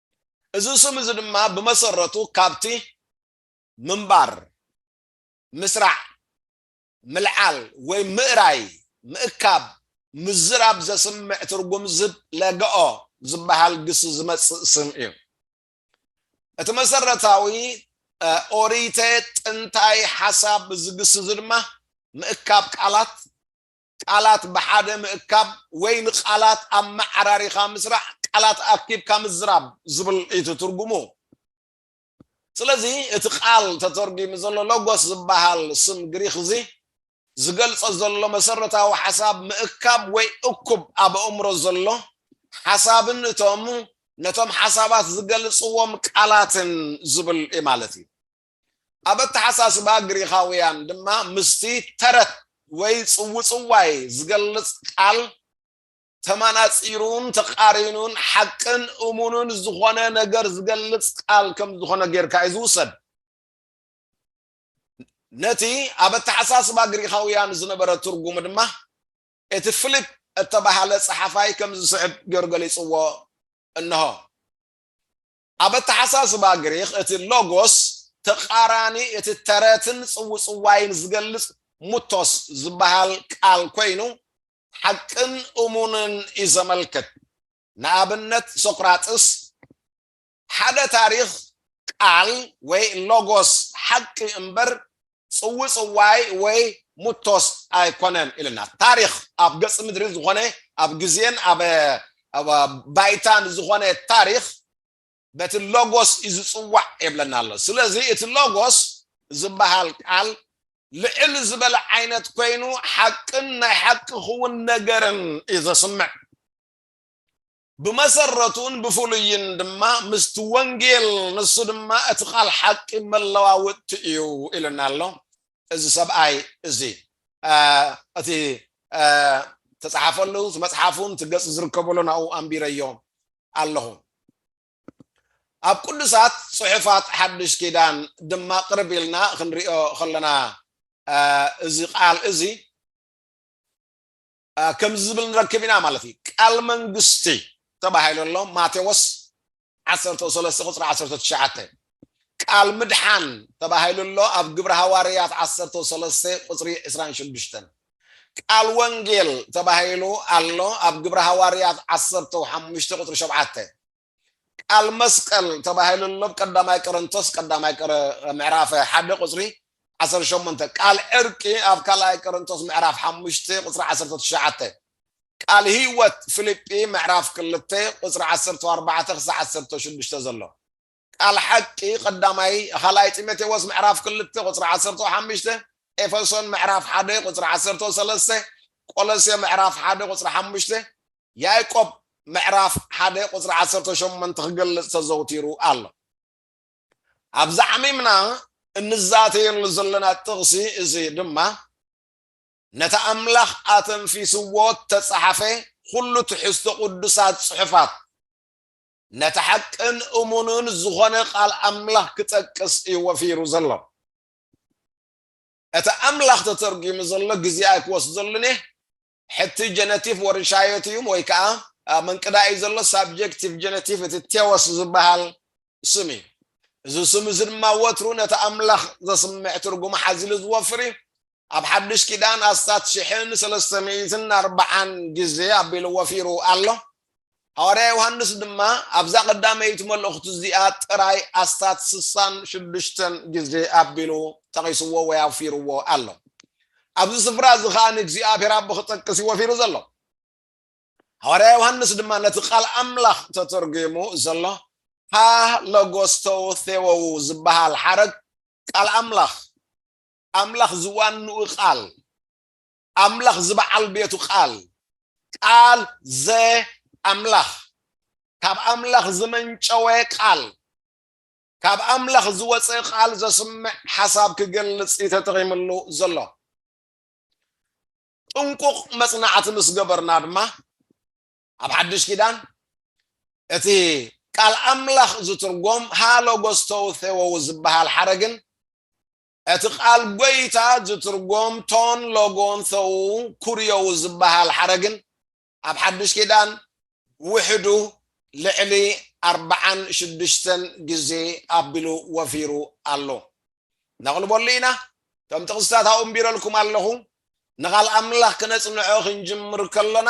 እዚ ስም እዚ ድማ ብመሰረቱ ካብቲ ምንባር፣ ምስራዕ፣ ምልዓል ወይ ምእራይ፣ ምእካብ፣ ምዝራብ ዘስምዕ ትርጉም ዝህብ ለገኦ ዝበሃል ግሲ ዝመጽእ ስም እዩ። እቲ መሰረታዊ ኦሪተ ጥንታይ ሓሳብ እዚ ግሲ እዚ ድማ ምእካብ ቃላት፣ ቃላት ብሓደ ምእካብ ወይ ንቃላት ኣመዓራሪኻ ምስራሕ፣ ቃላት ኣኪብካ ምዝራብ ዝብል እዩ እቲ ትርጉሙ። ስለዚ እቲ ቃል ተተርጒሙ ዘሎ ሎጎስ ዝበሃል ስም ግሪኽ እዚ ዝገልጾ ዘሎ መሰረታዊ ሓሳብ ምእካብ ወይ እኩብ ኣብ ኣእምሮ ዘሎ ሓሳብን እቶም ነቶም ሓሳባት ዝገልጽዎም ቃላትን ዝብል እዩ ማለት እዩ። ኣብ ኣተሓሳስባ ግሪኻውያን ድማ ምስቲ ተረት ወይ ጽውጽዋይ ዝገልጽ ቃል ተማናጺሩን ተቃሪኑን ሓቅን እሙንን ዝኾነ ነገር ዝገልጽ ቃል ከም ዝኾነ ጌርካ እዩ ዝውሰድ። ነቲ ኣብ ኣተሓሳስባ ግሪኻውያን ዝነበረ ትርጉም ድማ እቲ ፊሊፕ እተባህለ ጸሓፋይ ከም ዝስዕብ ጌሩ ገሊጽዎ እንሆ። ኣብ ኣተሓሳስባ ግሪኽ እቲ ሎጎስ ተቓራኒ እቲ ተረትን ጽውጽዋይን ዝገልጽ ሙቶስ ዝበሃል ቃል ኮይኑ ሓቅን እሙንን እዩ ዘመልክት። ንኣብነት ሶቅራጥስ ሓደ ታሪኽ ቃል ወይ ሎጎስ ሓቂ እምበር ጽውጽዋይ ወይ ሙቶስ ኣይኮነን ኢልና ታሪኽ ኣብ ገጽ ምድሪ ዝኾነ ኣብ ግዜን ኣብ ባይታን ዝኾነ ታሪኽ በቲ ሎጎስ እዩ ዝጽዋዕ የብለና ኣሎ ስለዚ እቲ ሎጎስ ዝበሃል ቃል ልዕል ዝበለ ዓይነት ኮይኑ ሓቅን ናይ ሓቂ ክውን ነገርን እዩ ዘስምዕ ብመሰረቱን ብፍሉይን ድማ ምስቲ ወንጌል ንሱ ድማ እቲ ቃል ሓቂ መለዋወጥቲ እዩ ኢሉና ኣሎ እዚ ሰብኣይ እዚ እቲ ተፃሓፈሉ እቲ መፅሓፉን እቲ ገፅ ዝርከበሉ ናብኡ ኣንቢረዮ ኣለኹ ኣብ ቅዱሳት ፅሑፋት ሓድሽ ኪዳን ድማ ቅርብ ኢልና ክንሪኦ ከለና እዚ ቃል እዚ ከምዚ ዝብል ንረክብ ኢና ማለት እዩ። ቃል መንግስቲ ተባሂሉ ኣሎ ማቴዎስ ዓሰርተ ሰለስተ ቁፅሪ ዓሰርተ ትሽዓተ ቃል ምድሓን ተባሂሉ ኣሎ ኣብ ግብረ ሃዋርያት ዓሰርተ ሰለስተ ቁፅሪ ዕስራን ሽዱሽተን ቃል ወንጌል ተባሂሉ ኣሎ ኣብ ግብረ ሃዋርያት ዓሰርተ ሓሙሽተ ቁፅሪ ሸውዓተ ቃል መስቀል ተባሂሉ ኣሎ ኣብ ቀዳማይ ቆረንቶስ ቀዳማይ ቆረ ምዕራፍ ሓደ ቁፅሪ ዓሰርተ ሸሞንተ ቃል ዕርቂ ኣብ ካልኣይ ቆረንቶስ ምዕራፍ ሓሙሽተ ቁፅሪ ዓሰርተ ትሽዓተ ቃል ህይወት ፊልጲ ምዕራፍ ክልተ ቁፅሪ ዓሰርተ ኣርባዕተ ክሳዕ ዓሰርተ ሽዱሽተ ዘሎ ቃል ሓቂ ቀዳማይ ካልኣይ ጢሞቴዎስ ምዕራፍ ክልተ ቁፅሪ ዓሰርተ ሓሙሽተ ኤፌሶን ምዕራፍ ሓደ ቁፅሪ ዓሰርተ ሰለስተ ቆሎሴ ምዕራፍ ሓደ ቁፅሪ ሓሙሽተ ያእቆብ ምዕራፍ ሓደ ቁጽሪ ዓሰርተ ሸሞንተ ክገልጽ ተዘውቲሩ ኣሎ። ኣብዚ ዓሚምና እንዛተየሉ ዘለና ጥቕሲ እዚ ድማ ነቲ ኣምላኽ ኣተንፊስዎ እተጻሕፈ ዅሉ ትሕዝቶ ቕዱሳት ጽሑፋት ነቲ ሓቅን እሙንን ዝዀነ ቓል ኣምላኽ ክጠቅስ እዩ ወፊሩ ዘሎ። እቲ ኣምላኽ ተተርጒሙ ዘሎ ግዜ ኣይክወስደሉን እየ፣ ሕቲ ጀነቲቭ ወርሻዮት እዩም ወይ ከኣ ኣብ መንቅዳ እዩ ዘሎ ሳብጀክቲቭ ጀነቲቭ እቲ ቴዎስ ዝበሃል ስም እዩ። እዚ ስም እዚ ድማ ወትሩ ነቲ ኣምላኽ ዘስምዕ ትርጉም ሓዚሉ ዝወፍር እዩ። ኣብ ሓድሽ ኪዳን ኣስታት ሽሕን ሰለስተ ሚእትን ኣርብዓን ግዜ ኣቢሉ ወፊሩ ኣሎ። ሃዋርያ ዮሃንስ ድማ ኣብዛ ቀዳመይቲ መልእኽቱ እዚኣ ጥራይ ኣስታት ስሳን ሽዱሽተን ግዜ ኣቢሉ ጠቒስዎ ወይ ኣውፊርዎ ኣሎ። ኣብዚ ስፍራ እዚ ኸኣ ንእግዚኣብሔር ኣቦ ክጠቅስ እዩ ወፊሩ ዘሎ። ሃዋርያ ዮሃንስ ድማ ነቲ ቃል ኣምላኽ ተተርጒሙ ዘሎ ሃ ለጎስተው ቴዎው ዝበሃል ሓረግ ቃል ኣምላኽ ኣምላኽ ዝዋንኡ ቃል ኣምላኽ ዝበዓል ቤቱ ቃል ቃል ዘ ኣምላኽ ካብ ኣምላኽ ዝመንጨወ ቃል ካብ ኣምላኽ ዝወፅእ ቃል ዘስምዕ ሓሳብ ክገልፅ እዩ ተጠቒምሉ ዘሎ ጥንቁቕ መፅናዕቲ ምስ ገበርና ድማ ኣብ ሓድሽ ኪዳን እቲ ቃል ኣምላኽ ዝትርጎም ሃሎጎስተውቴዎው ዝበሃል ሓረግን እቲ ቃል ጎይታ ዝትርጎም ቶን ሎጎን ቶው ኩርዮው ዝበሃል ሓረግን ኣብ ሓድሽ ኪዳን ብውሕዱ ልዕሊ ኣርብዓን ሽዱሽተን ግዜ ኣቢሉ ወፊሩ ኣሎ። ነቕልበሉ ኢና። እቶም ጥቕስታት ኣኡንቢረልኩም ኣለኹ። ንቓል ኣምላኽ ክነጽንዖ ክንጅምር ከሎና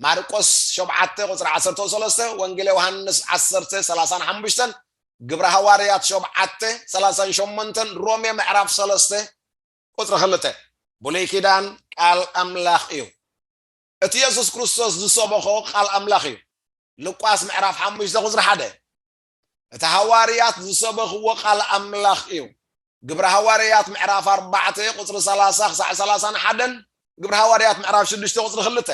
ማርቆስ ሾብዓተ ቁጽሪ ዓሰርተው ሰለስተ፣ ወንጌለ ዮሃንስ ዓሰርተ ሰላሳን ሓሙሽተን፣ ግብረ ሃዋርያት ሾብዓተ ሰላሳን ሾሞንተን፣ ሮሜ ምዕራፍ ሰለስተ ቁጽሪ ክልተ። ብሉይ ኪዳን ቃል ኣምላኽ እዩ። እቲ የሱስ ክርስቶስ ዝሰበኾ ቃል ኣምላኽ እዩ። ሉቃስ ምዕራፍ ሓሙሽተ ቁጽሪ ሓደ። እቲ ሃዋርያት ዝሰበኽዎ ቃል ኣምላኽ እዩ። ግብሪ ሃዋርያት ምዕራፍ ኣርባዕተ ቁጽሪ ሰላሳ ክሳዕ ሰላሳን ሓደን ግብሪ ሃዋርያት ምዕራፍ ሽዱሽተ ቁጽሪ ክልተ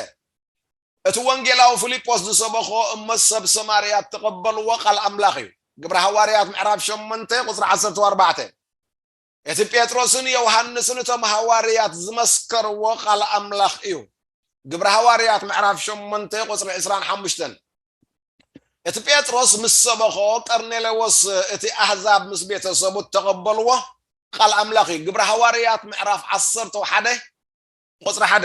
እቲ ወንጌላዊ ፊልጶስ ዝሰበኾ እሞ ሰብ ሰማርያ እተቐበልዎ ቃል ኣምላኽ እዩ። ግብሪ ሃዋርያት ምዕራፍ ሸሞንተ ቁጽሪ ዓሰርተ ኣርባዕተ እቲ ጴጥሮስን ዮሃንስን እቶም ሃዋርያት ዝመስከርዎ ቃል ኣምላኽ እዩ። ግብሪ ሃዋርያት ምዕራፍ ሸሞንተ ቁጽሪ ዕስራን ሓሙሽተን እቲ ጴጥሮስ ምስ ሰበኾ ቀርኔሌዎስ እቲ ኣህዛብ ምስ ቤተሰቡ እተቐበልዎ ቃል ኣምላኽ እዩ። ግብሪ ሃዋርያት ምዕራፍ ዓሰርተ ሓደ ቁጽሪ ሓደ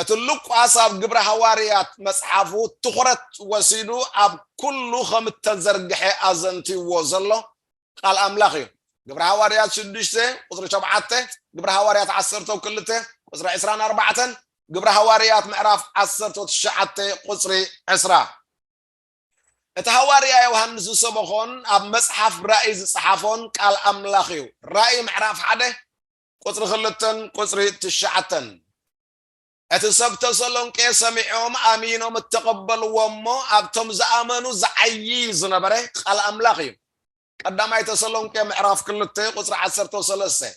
እቲ ሉቃስ ኣብ ግብረ ሃዋርያት መጽሓፉ ትኹረት ወሲዱ ኣብ ኩሉ ከም እተዘርግሐ ኣዘንትዩዎ ዘሎ ቃል ኣምላኽ እዩ። ግብረ ሃዋርያት ሽዱሽተ ቁጽሪ ሸውዓተ፣ ግብረ ሃዋርያት ዓሰርተው ክልተ ቁጽሪ ዕስራን ኣርባዕተን፣ ግብረ ሃዋርያት ምዕራፍ ዓሰርተው ትሽዓተ ቁጽሪ ዕስራ። እቲ ሃዋርያ ዮሃንስ ዝሰበኾን ኣብ መጽሓፍ ራእይ ዝጸሓፎን ቃል ኣምላኽ እዩ። ራእይ ምዕራፍ ሓደ ቁጽሪ ክልተን ቁጽሪ ትሽዓተን እቲ ሰብ ተሰሎንቄ ሰሚዖም ኣሚኖም እተቐበልዎ እሞ ኣብቶም ዝኣመኑ ዝዓይይ ዝነበረ ቃል ኣምላኽ እዩ ቀዳማይ ተሰሎንቄ ምዕራፍ ክልተ ቁጽሪ ዓሰርተ ሰለስተ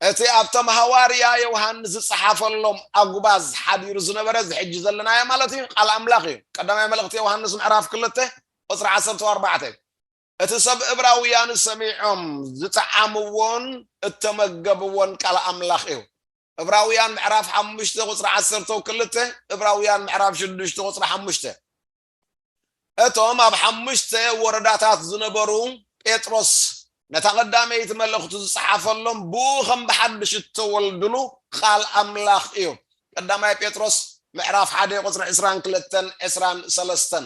እቲ ኣብቶም ሃዋርያ ዮሃንስ ዝጸሓፈሎም ኣጉባዝ ሓዲሩ ዝነበረ እዚ ሕጂ ዘለናዮ ማለት እዩ ቃል ኣምላኽ እዩ ቀዳማይ መልእኽቲ ዮሃንስ ምዕራፍ ክልተ ቁጽሪ ዓሰርተ ኣርባዕተ እቲ ሰብ እብራውያን ሰሚዖም ዝጠዓምዎን እተመገብዎን ቃል ኣምላኽ እዩ። እብራውያን ምዕራፍ ሓሙሽተ ቁጽሪ ዓሰርተው ክልተ እብራውያን ምዕራፍ ሽዱሽተ ቁጽሪ ሓሙሽተ እቶም ኣብ ሓሙሽተ ወረዳታት ዝነበሩ ጴጥሮስ ነታ ቀዳመይቲ መልእኽቱ ዝጸሓፈሎም ብኡ ከም ብሓድሽ እተወልድሉ ቃል ኣምላኽ እዩ። ቀዳማይ ጴጥሮስ ምዕራፍ ሓደ ቁጽሪ ዕስራን ክልተን ዕስራን ሰለስተን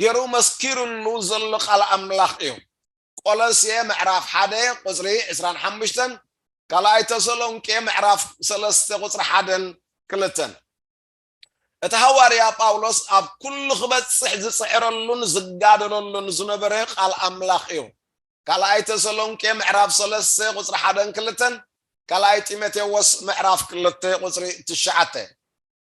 ጌሩ መስኪሩሉ ዘሎ ቃል ኣምላኽ እዩ። ቆሎሴ ምዕራፍ ሓደ ቁጽሪ ዕስራን ሓሙሽተን ካልኣይ ተሰሎንቄ ምዕራፍ ሰለስተ ቁጽሪ ሓደን ክልተን እቲ ሃዋርያ ጳውሎስ ኣብ ኩሉ ክበጽሕ ዝጽዕረሉን ዝጋደለሉን ዝነበረ ቃል ኣምላኽ እዩ። ካልኣይ ተሰሎንቄ ምዕራፍ ሰለስተ ቁጽሪ ሓደን ክልተን ካልኣይ ጢሞቴዎስ ምዕራፍ ክልተ ቁጽሪ ትሽዓተ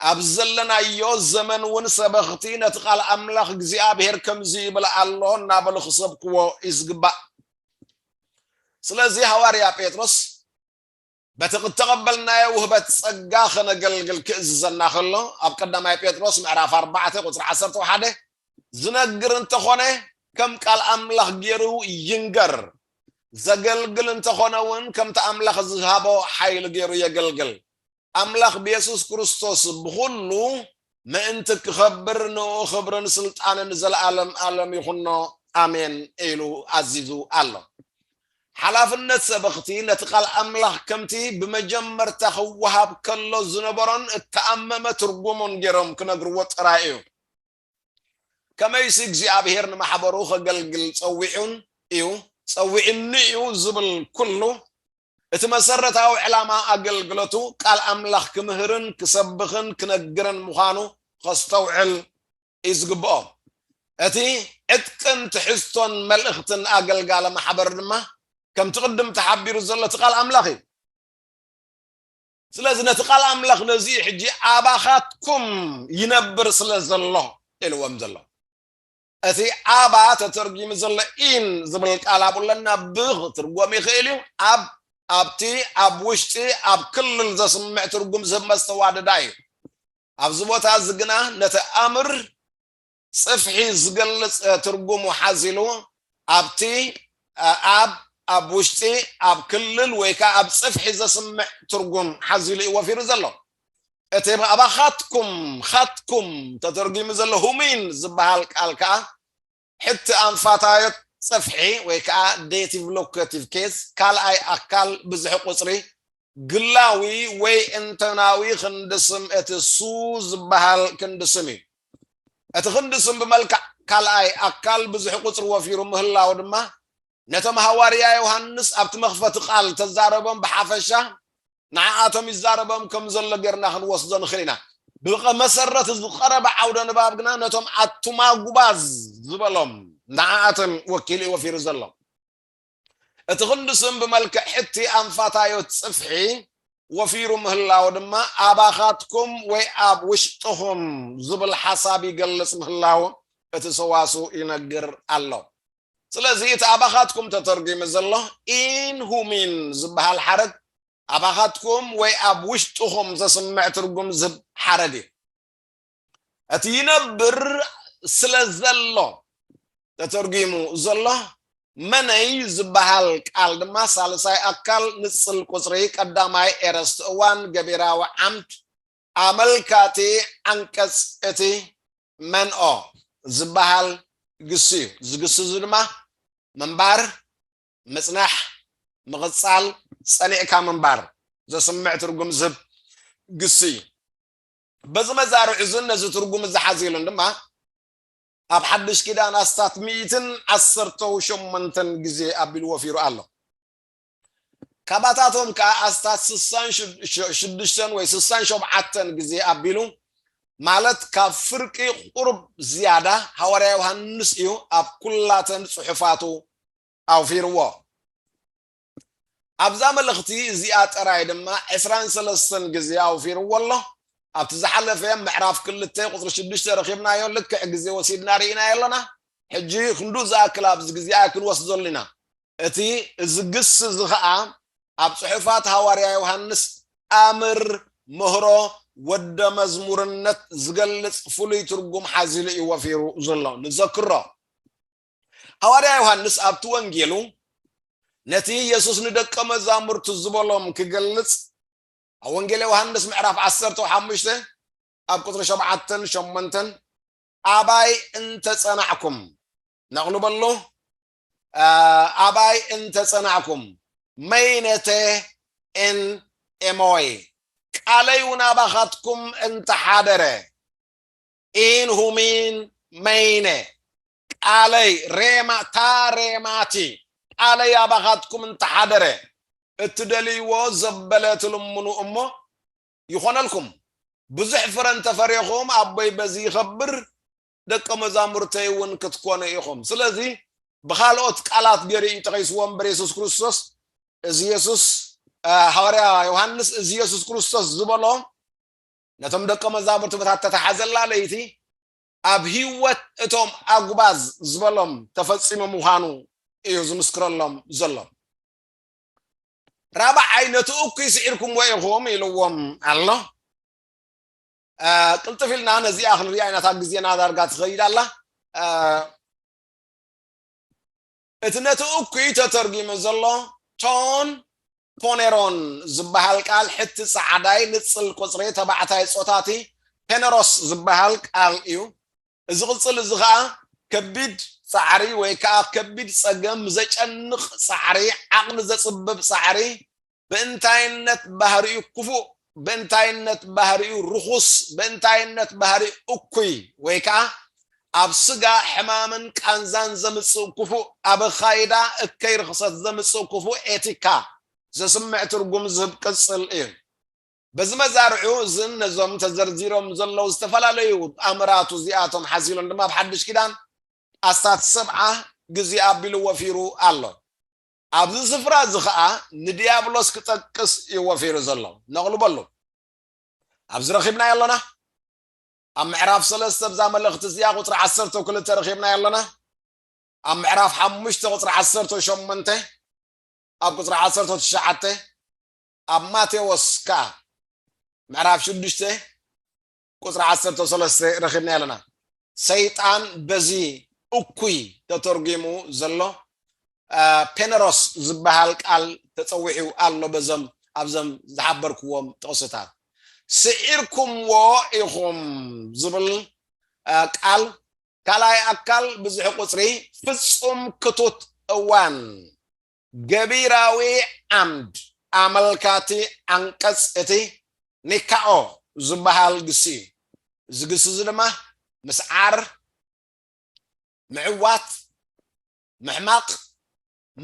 ኣብ ዘለናዮ ዘመን እውን ሰበኽቲ ነቲ ቃል ኣምላኽ እግዚኣብሔር ከምዚ ይብል ኣሎ እናበሉ ክሰብክዎ እዩ ዝግባእ። ስለዚ ሃዋርያ ጴጥሮስ በቲ እተቐበልናዮ ውህበት ጸጋ ከነገልግል ክእዝዘና ከሎ ኣብ ቀዳማይ ጴጥሮስ ምዕራፍ 4 ቁፅሪ 11 ዝነግር እንተኾነ ከም ቃል ኣምላኽ ገይሩ ይንገር ዘገልግል እንተኾነ እውን ከምቲ ኣምላኽ ዝሃቦ ሓይሊ ገይሩ የገልግል ኣምላኽ ብየሱስ ክርስቶስ ብኹሉ ምእንቲ ክኸብር ንእኡ ክብርን ስልጣንን ዘለኣለም ኣለም ይኹኖ ኣሜን ኢሉ ኣዚዙ ኣሎ። ሓላፍነት ሰበኽቲ ነቲ ቃል ኣምላኽ ከምቲ ብመጀመርታ ክወሃብ ከሎ ዝነበሮን እተኣመመ ትርጉሙን ጌሮም ክነግርዎ ጥራይ እዩ። ከመይሲ እግዚኣብሄር ንማሕበሩ ኸገልግል ጸዊዑን እዩ፣ ጸዊዑኒ እዩ ዝብል ኩሉ፣ እቲ መሰረታዊ ዕላማ ኣገልግሎቱ ቃል ኣምላኽ ክምህርን ክሰብኽን ክነግርን ምዃኑ ኸስተውዕል እዩ ዝግብኦ። እቲ ዕጥቅን ትሕዝቶን መልእኽትን ኣገልጋሊ ማሕበር ድማ ከምቲ ቅድም ተሓቢሩ ዘሎ እቲ ቃል ኣምላኽ እዩ። ስለዚ ነቲ ቃል ኣምላኽ ነዚ እዩ ሕጂ ኣባኻትኩም ይነብር ስለ ዘሎ ኢልዎም ዘሎ እቲ ኣባ ተተርጊሙ ዘሎ ኢን ዝብል ቃል ኣብኡ ኣለና ብ ክትርጎም ይኽእል እዩ ኣብ ኣብቲ ኣብ ውሽጢ ኣብ ክልል ዘስምዕ ትርጉም ዝህብ መስተዋደዳ እዩ ኣብዚ ቦታ እዚ ግና ነቲ ኣምር ጽፍሒ ዝገልጽ ትርጉሙ ሓዚሉ ኣብቲ ኣብ ኣብ ውሽጢ ኣብ ክልል ወይ ከዓ ኣብ ጽፍሒ ዘስምዕ ትርጉም ሓዚሉ እዩ ወፊሩ ዘሎ እቲ ብኣባ ኻትኩም ኻትኩም ተተርጒሙ ዘሎ ሁሚን ዝበሃል ቃል ከዓ ሕቲ ኣንፋታዮት ጽፍሒ ወይ ከዓ ዴቲቭ ሎኬቲቭ ኬዝ ካልኣይ ኣካል ብዝሒ ቁፅሪ ግላዊ ወይ እንተናዊ ክንዲ ስም እቲ ሱ ዝበሃል ክንዲ ስም እዩ። እቲ ክንዲ ስም ብመልክዕ ካልኣይ ኣካል ብዝሒ ቁጽሪ ወፊሩ ምህላው ድማ ነቶም ሃዋርያ ዮሃንስ ኣብቲ መኽፈቲ ቃል እተዛረቦም ብሓፈሻ ንዓኣቶም ይዛረቦም ከም ዘሎ ጌርና ክንወስዶ ንኽእል ኢና። ብመሰረት እዚ ዝቐረበ ዓውደ ንባብ ግና ነቶም ኣቱማጉባዝ ዝበሎም ንዓኣቶም ወኪሉ እዩ ወፊሩ ዘሎ። እቲ ክንዲ ስም ብመልክዕ ሕቲ ኣንፋታዮት ጽፍሒ ወፊሩ ምህላው ድማ ኣባኻትኩም ወይ ኣብ ውሽጥኹም ዝብል ሓሳብ ይገልጽ ምህላው እቲ ሰዋስው ይነግር ኣሎ። ስለዚ እቲ ኣባኻትኩም ተተርጒሙ ዘሎ ኢን ሁሚን ዝበሃል ሓረግ ኣባኻትኩም ወይ ኣብ ውሽጥኹም ዘስምዕ ትርጉም ዝህብ ሓረግ እዩ። እቲ ይነብር ስለ ዘሎ ተተርጒሙ ዘሎ መነይ ዝበሃል ቃል ድማ ሳልሳይ ኣካል ንጽል ቁጽሪ ቀዳማይ ኤረስት እዋን ገቢራዊ ዓምድ ኣመልካቲ ዓንቀጽ እቲ መንኦ ዝበሃል ግሲ እዩ። እዚ ግሲ እዚ ድማ ምንባር፣ ምጽናሕ፣ ምቕጻል፣ ጸኒዕካ ምንባር ዘስምዕ ትርጉም ዝህብ ግሲ እዩ። በዚ መዛርዕ እዝን ነዚ ትርጉም እዚ ሓዚልን ድማ ኣብ ሓድሽ ኪዳን ኣስታት ሚእትን ዓሰርተው ሸሞንተን ግዜ ኣቢሉ ወፊሩ ኣሎ። ካባታቶም ከኣ ኣስታት ስሳን ሽዱሽተን ወይ ስሳን ሸብዓተን ግዜ ኣቢሉ ማለት ካብ ፍርቂ ቁርብ ዝያዳ ሃዋርያ ዮሃንስ እዩ ኣብ ኩላተን ጽሑፋቱ ኣውፊርዎ። ኣብዛ መልእኽቲ እዚኣ ጥራይ ድማ ዕስራን ሰለስተን ግዜ ኣውፊርዎ ኣሎ። ኣብቲ ዝሓለፈ ምዕራፍ ክልተ ቁጽሪ ሽዱሽተ ረኺብናዮ ልክዕ ግዜ ወሲድና ርኢናዮ ኣለና። ሕጂ ክንድኡ ዝኣክል ኣብዚ ግዜ ኣይክንወስደሉን ኢና። እቲ እዚ ግሲ እዚ ኸኣ ኣብ ጽሑፋት ሃዋርያ ዮሃንስ ኣምር፣ ምህሮ፣ ወደ መዝሙርነት ዝገልጽ ፍሉይ ትርጉም ሓዚሉ እዩ ወፊሩ ዘሎ። ንዘክሮ። ሃዋርያ ዮሃንስ ኣብቲ ወንጌሉ ነቲ የሱስ ንደቀ መዛሙርቱ ዝበሎም ክገልጽ ኣብ ወንጌል ዮሃንስ ምዕራፍ 15 ኣብ ቁፅሪ ሸብዓተን ሸሞንተን ኣባይ እንተጸናዕኩም ነቕሉ በሎ ኣባይ እንተጸናዕኩም መይነተ እን ኤሞይ ቃለይ እውን ኣባኻትኩም እንተሓደረ ኢን ሁሚን መይነ ቃለይ ሬማ እታ ሬማቲ ቃለይ ኣባኻትኩም እንተሓደረ እትደልይዎ ዘበለ ትልምኑ እሞ ይኾነልኩም ብዙሕ ፍረ እንተፈሬኹም ኣቦይ በዚ ይኸብር ደቀ መዛሙርተይ እውን ክትኮኑ ኢኹም ስለዚ ብኻልኦት ቃላት ገይሩ እዩ ጠቂስዎ እምበር የሱስ ክርስቶስ እዚ የሱስ ሃዋርያ ዮሃንስ እዚ የሱስ ክርስቶስ ዝበሎ ነቶም ደቀ መዛሙርቲ በታ ተታሓዘላ ለይቲ ኣብ ህይወት እቶም ኣጉባዝ ዝበሎም ተፈጺሙ ምዃኑ እዩ ዝምስክረሎም ዘሎ። ራብዓይ ነቲ እኩይ ስዒርኩምዎ ኢኹም ኢልዎም ኣሎ። ቅልጥፍ ኢልና ነዚኣ ክንሪኣ ኢና፣ እታ ግዜና ዳርጋ ትኸይድ ኣላ። እቲ ነቲ እኩይ ተተርጒሙ ዘሎ ቶን ፖኔሮን ዝበሃል ቃል ሕቲ ጸዓዳይ ንጽል ቁጽሪ ተባዕታይ ጾታ እቲ ፔነሮስ ዝበሃል ቃል እዩ። እዚ ቅጽል እዚ ከኣ ከቢድ ጻዕሪ ወይ ከኣ ከቢድ ጸገም፣ ዘጨንቕ ጻዕሪ፣ ዓቕሊ ዘጽብብ ጻዕሪ፣ ብእንታይነት ባህሪኡ ክፉእ፣ ብእንታይነት ባህሪኡ ርኹስ፣ ብእንታይነት ባህሪኡ እኩይ፣ ወይ ከኣ ኣብ ስጋ ሕማምን ቃንዛን ዘምጽእ ክፉእ፣ ኣብ ኣኻይዳ እከይ ርኽሰት ዘምጽእ ክፉእ ኤቲካ ዘስምዕ ትርጉም ዝህብ ቅጽል እዩ። በዚ መዛርዑ እዝን ነዞም ተዘርዚሮም ዘለዉ ዝተፈላለዩ ኣምራቱ እዚኣቶም ሓሲሎን ድማ ኣብ ሓድሽ ኪዳን ኣስታት ሰብዓ ግዜ ኣቢሉ ወፊሩ ኣሎ። ኣብዚ ስፍራ እዚ ኸኣ ንድያብሎስ ክጠቅስ እዩ ወፊሩ ዘሎ። ነቕልበሉ። ኣብዚ ረኺብናዮ ኣሎና። ኣብ ምዕራፍ ሰለስተ ኣብዛ መልእኽቲ እዚኣ ቁጽሪ ዓሰርተው ክልተ ረኺብናዮ ኣሎና። ኣብ ምዕራፍ ሓሙሽተ ቁጽሪ ዓሰርተው ሸሞንተ ኣብ ቁጽሪ ዓሰርተው ትሽዓተ ኣብ ማቴዎስ ከኣ ምዕራፍ ሽዱሽተ ቁፅሪ ዓሰርተ ሰለስተ ረኺብናዮ ኣለና ሰይጣን በዚ እኩይ ተተርጒሙ ዘሎ ፔነሮስ ዝበሃል ቃል ተፀዊዑ ኣሎ በዞም ኣብዞም ዝሓበርክዎም ጥቕስታት ስዒርኩምዎ ኢኹም ዝብል ቃል ካልኣይ ኣካል ብዝሒ ቁፅሪ ፍፁም ክቱት እዋን ገቢራዊ ዓምድ ኣመልካቲ ዓንቀጽ እቲ ኒካኦ ዝበሃል ግሲ እዩ። እዚ ግሲ እዚ ድማ ምስዓር፣ ምዕዋት፣ ምሕማቕ፣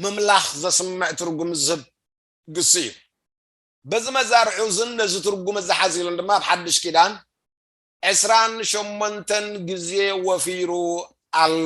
ምምላኽ ዘስምዕ ትርጉም ዝህብ ግሲ እዩ። በዚ መዛርዑ እዝን ነዚ ትርጉም እዚ ሓዚሉን ድማ ኣብ ሓድሽ ኪዳን ዕስራን ሸሞንተን ግዜ ወፊሩ ኣሎ።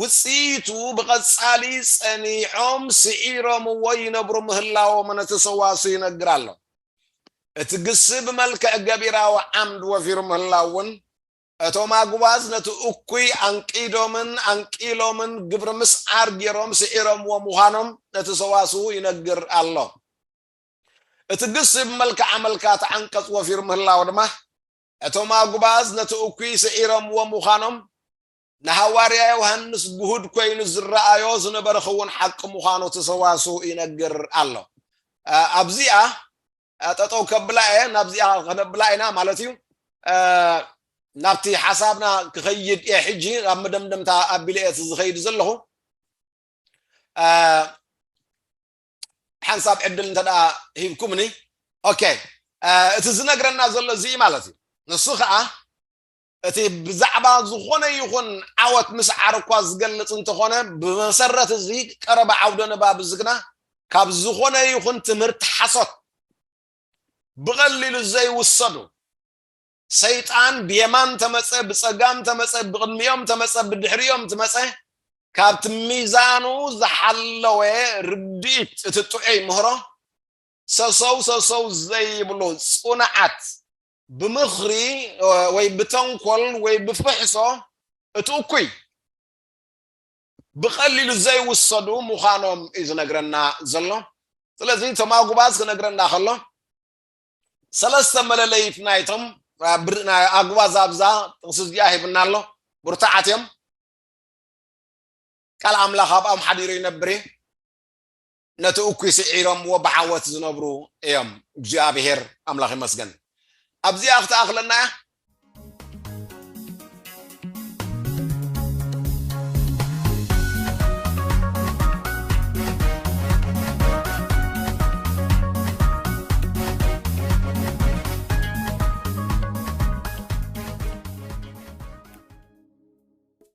ውጽኢቱ ብቐጻሊ ጸኒዖም ስዒሮምዎ ይነብሩ ምህላዎምን እቲ ሰዋስው ይነግር ኣሎ። እቲ ግሲ ብመልክዕ ገቢራዊ ዓምድ ወፊሩ ምህላው እውን እቶም ኣጉባዝ ነቲ እኩይ ኣንቂዶምን ኣንቂሎምን ግብሪ ምስዓር ጌሮም ስዒሮምዎ ምዃኖም ነቲ ሰዋስው ይነግር ኣሎ። እቲ ግሲ ብመልክዕ ኣመልካቲ ዓንቀጽ ወፊሩ ምህላው ድማ እቶም ኣጉባዝ ነቲ እኩይ ስዒሮምዎ ምዃኖም ንሃዋርያ ዮሃንስ ግሁድ ኮይኑ ዝረኣዮ ዝነበረ ክውን ሓቂ ምዃኑ እቲ ሰዋስው ይነግር ኣሎ። ኣብዚኣ ጠጠው ከብላ እየ ናብዚኣ ከነብላ ኢና ማለት እዩ። ናብቲ ሓሳብና ክኸይድ እየ ሕጂ ኣብ መደምደምታ ኣቢለ እየ ዝኸይድ ዘለኹ። ሓንሳብ ዕድል እንተ ሂብኩምኒ ኦኬ እቲ ዝነግረና ዘሎ እዚ ማለት እዩ ንሱ ከዓ እቲ ብዛዕባ ዝኾነ ይኹን ዓወት ምስዓር እኳ ዝገልጽ እንተኾነ ብመሰረት እዚ ቀረባ ዓውደ ንባብ እዚ ግና ካብ ዝኾነ ይኹን ትምህርቲ ሓሶት ብቐሊሉ ዘይውሰዱ ሰይጣን ብየማን ተመፀ ብፀጋም ተመፀ ብቕድሚኦም ተመፀ ብድሕሪኦም ትመፀ ካብቲ ሚዛኑ ዝሓለወ ርድኢት እቲ ጥዑይ ምህሮ ሰሰው ሰሰው ዘይብሉ ፅኑዓት ብምኽሪ ወይ ብተንኮል ወይ ብፍሕሶ እቲ እኩይ ብቐሊሉ ዘይውሰዱ ምዃኖም እዩ ዝነግረና ዘሎ ስለዚ እቶም ኣጉባዝ ክነግረና ከሎ ሰለስተ መለለይት ናይቶም ኣጉባዝ ኣብዛ ጥቕሲ እዚኣ ሂብና ኣሎ ብርቱዓት እዮም ቃል ኣምላኽ ኣብኦም ሓዲሩ ይነብር እዩ ነቲ እኩይ ስዒሮምዎ ብዓወት ዝነብሩ እዮም እግዚኣብሔር ኣምላኽ ይመስገን ኣብዚኣ ክትኣኽለና እያ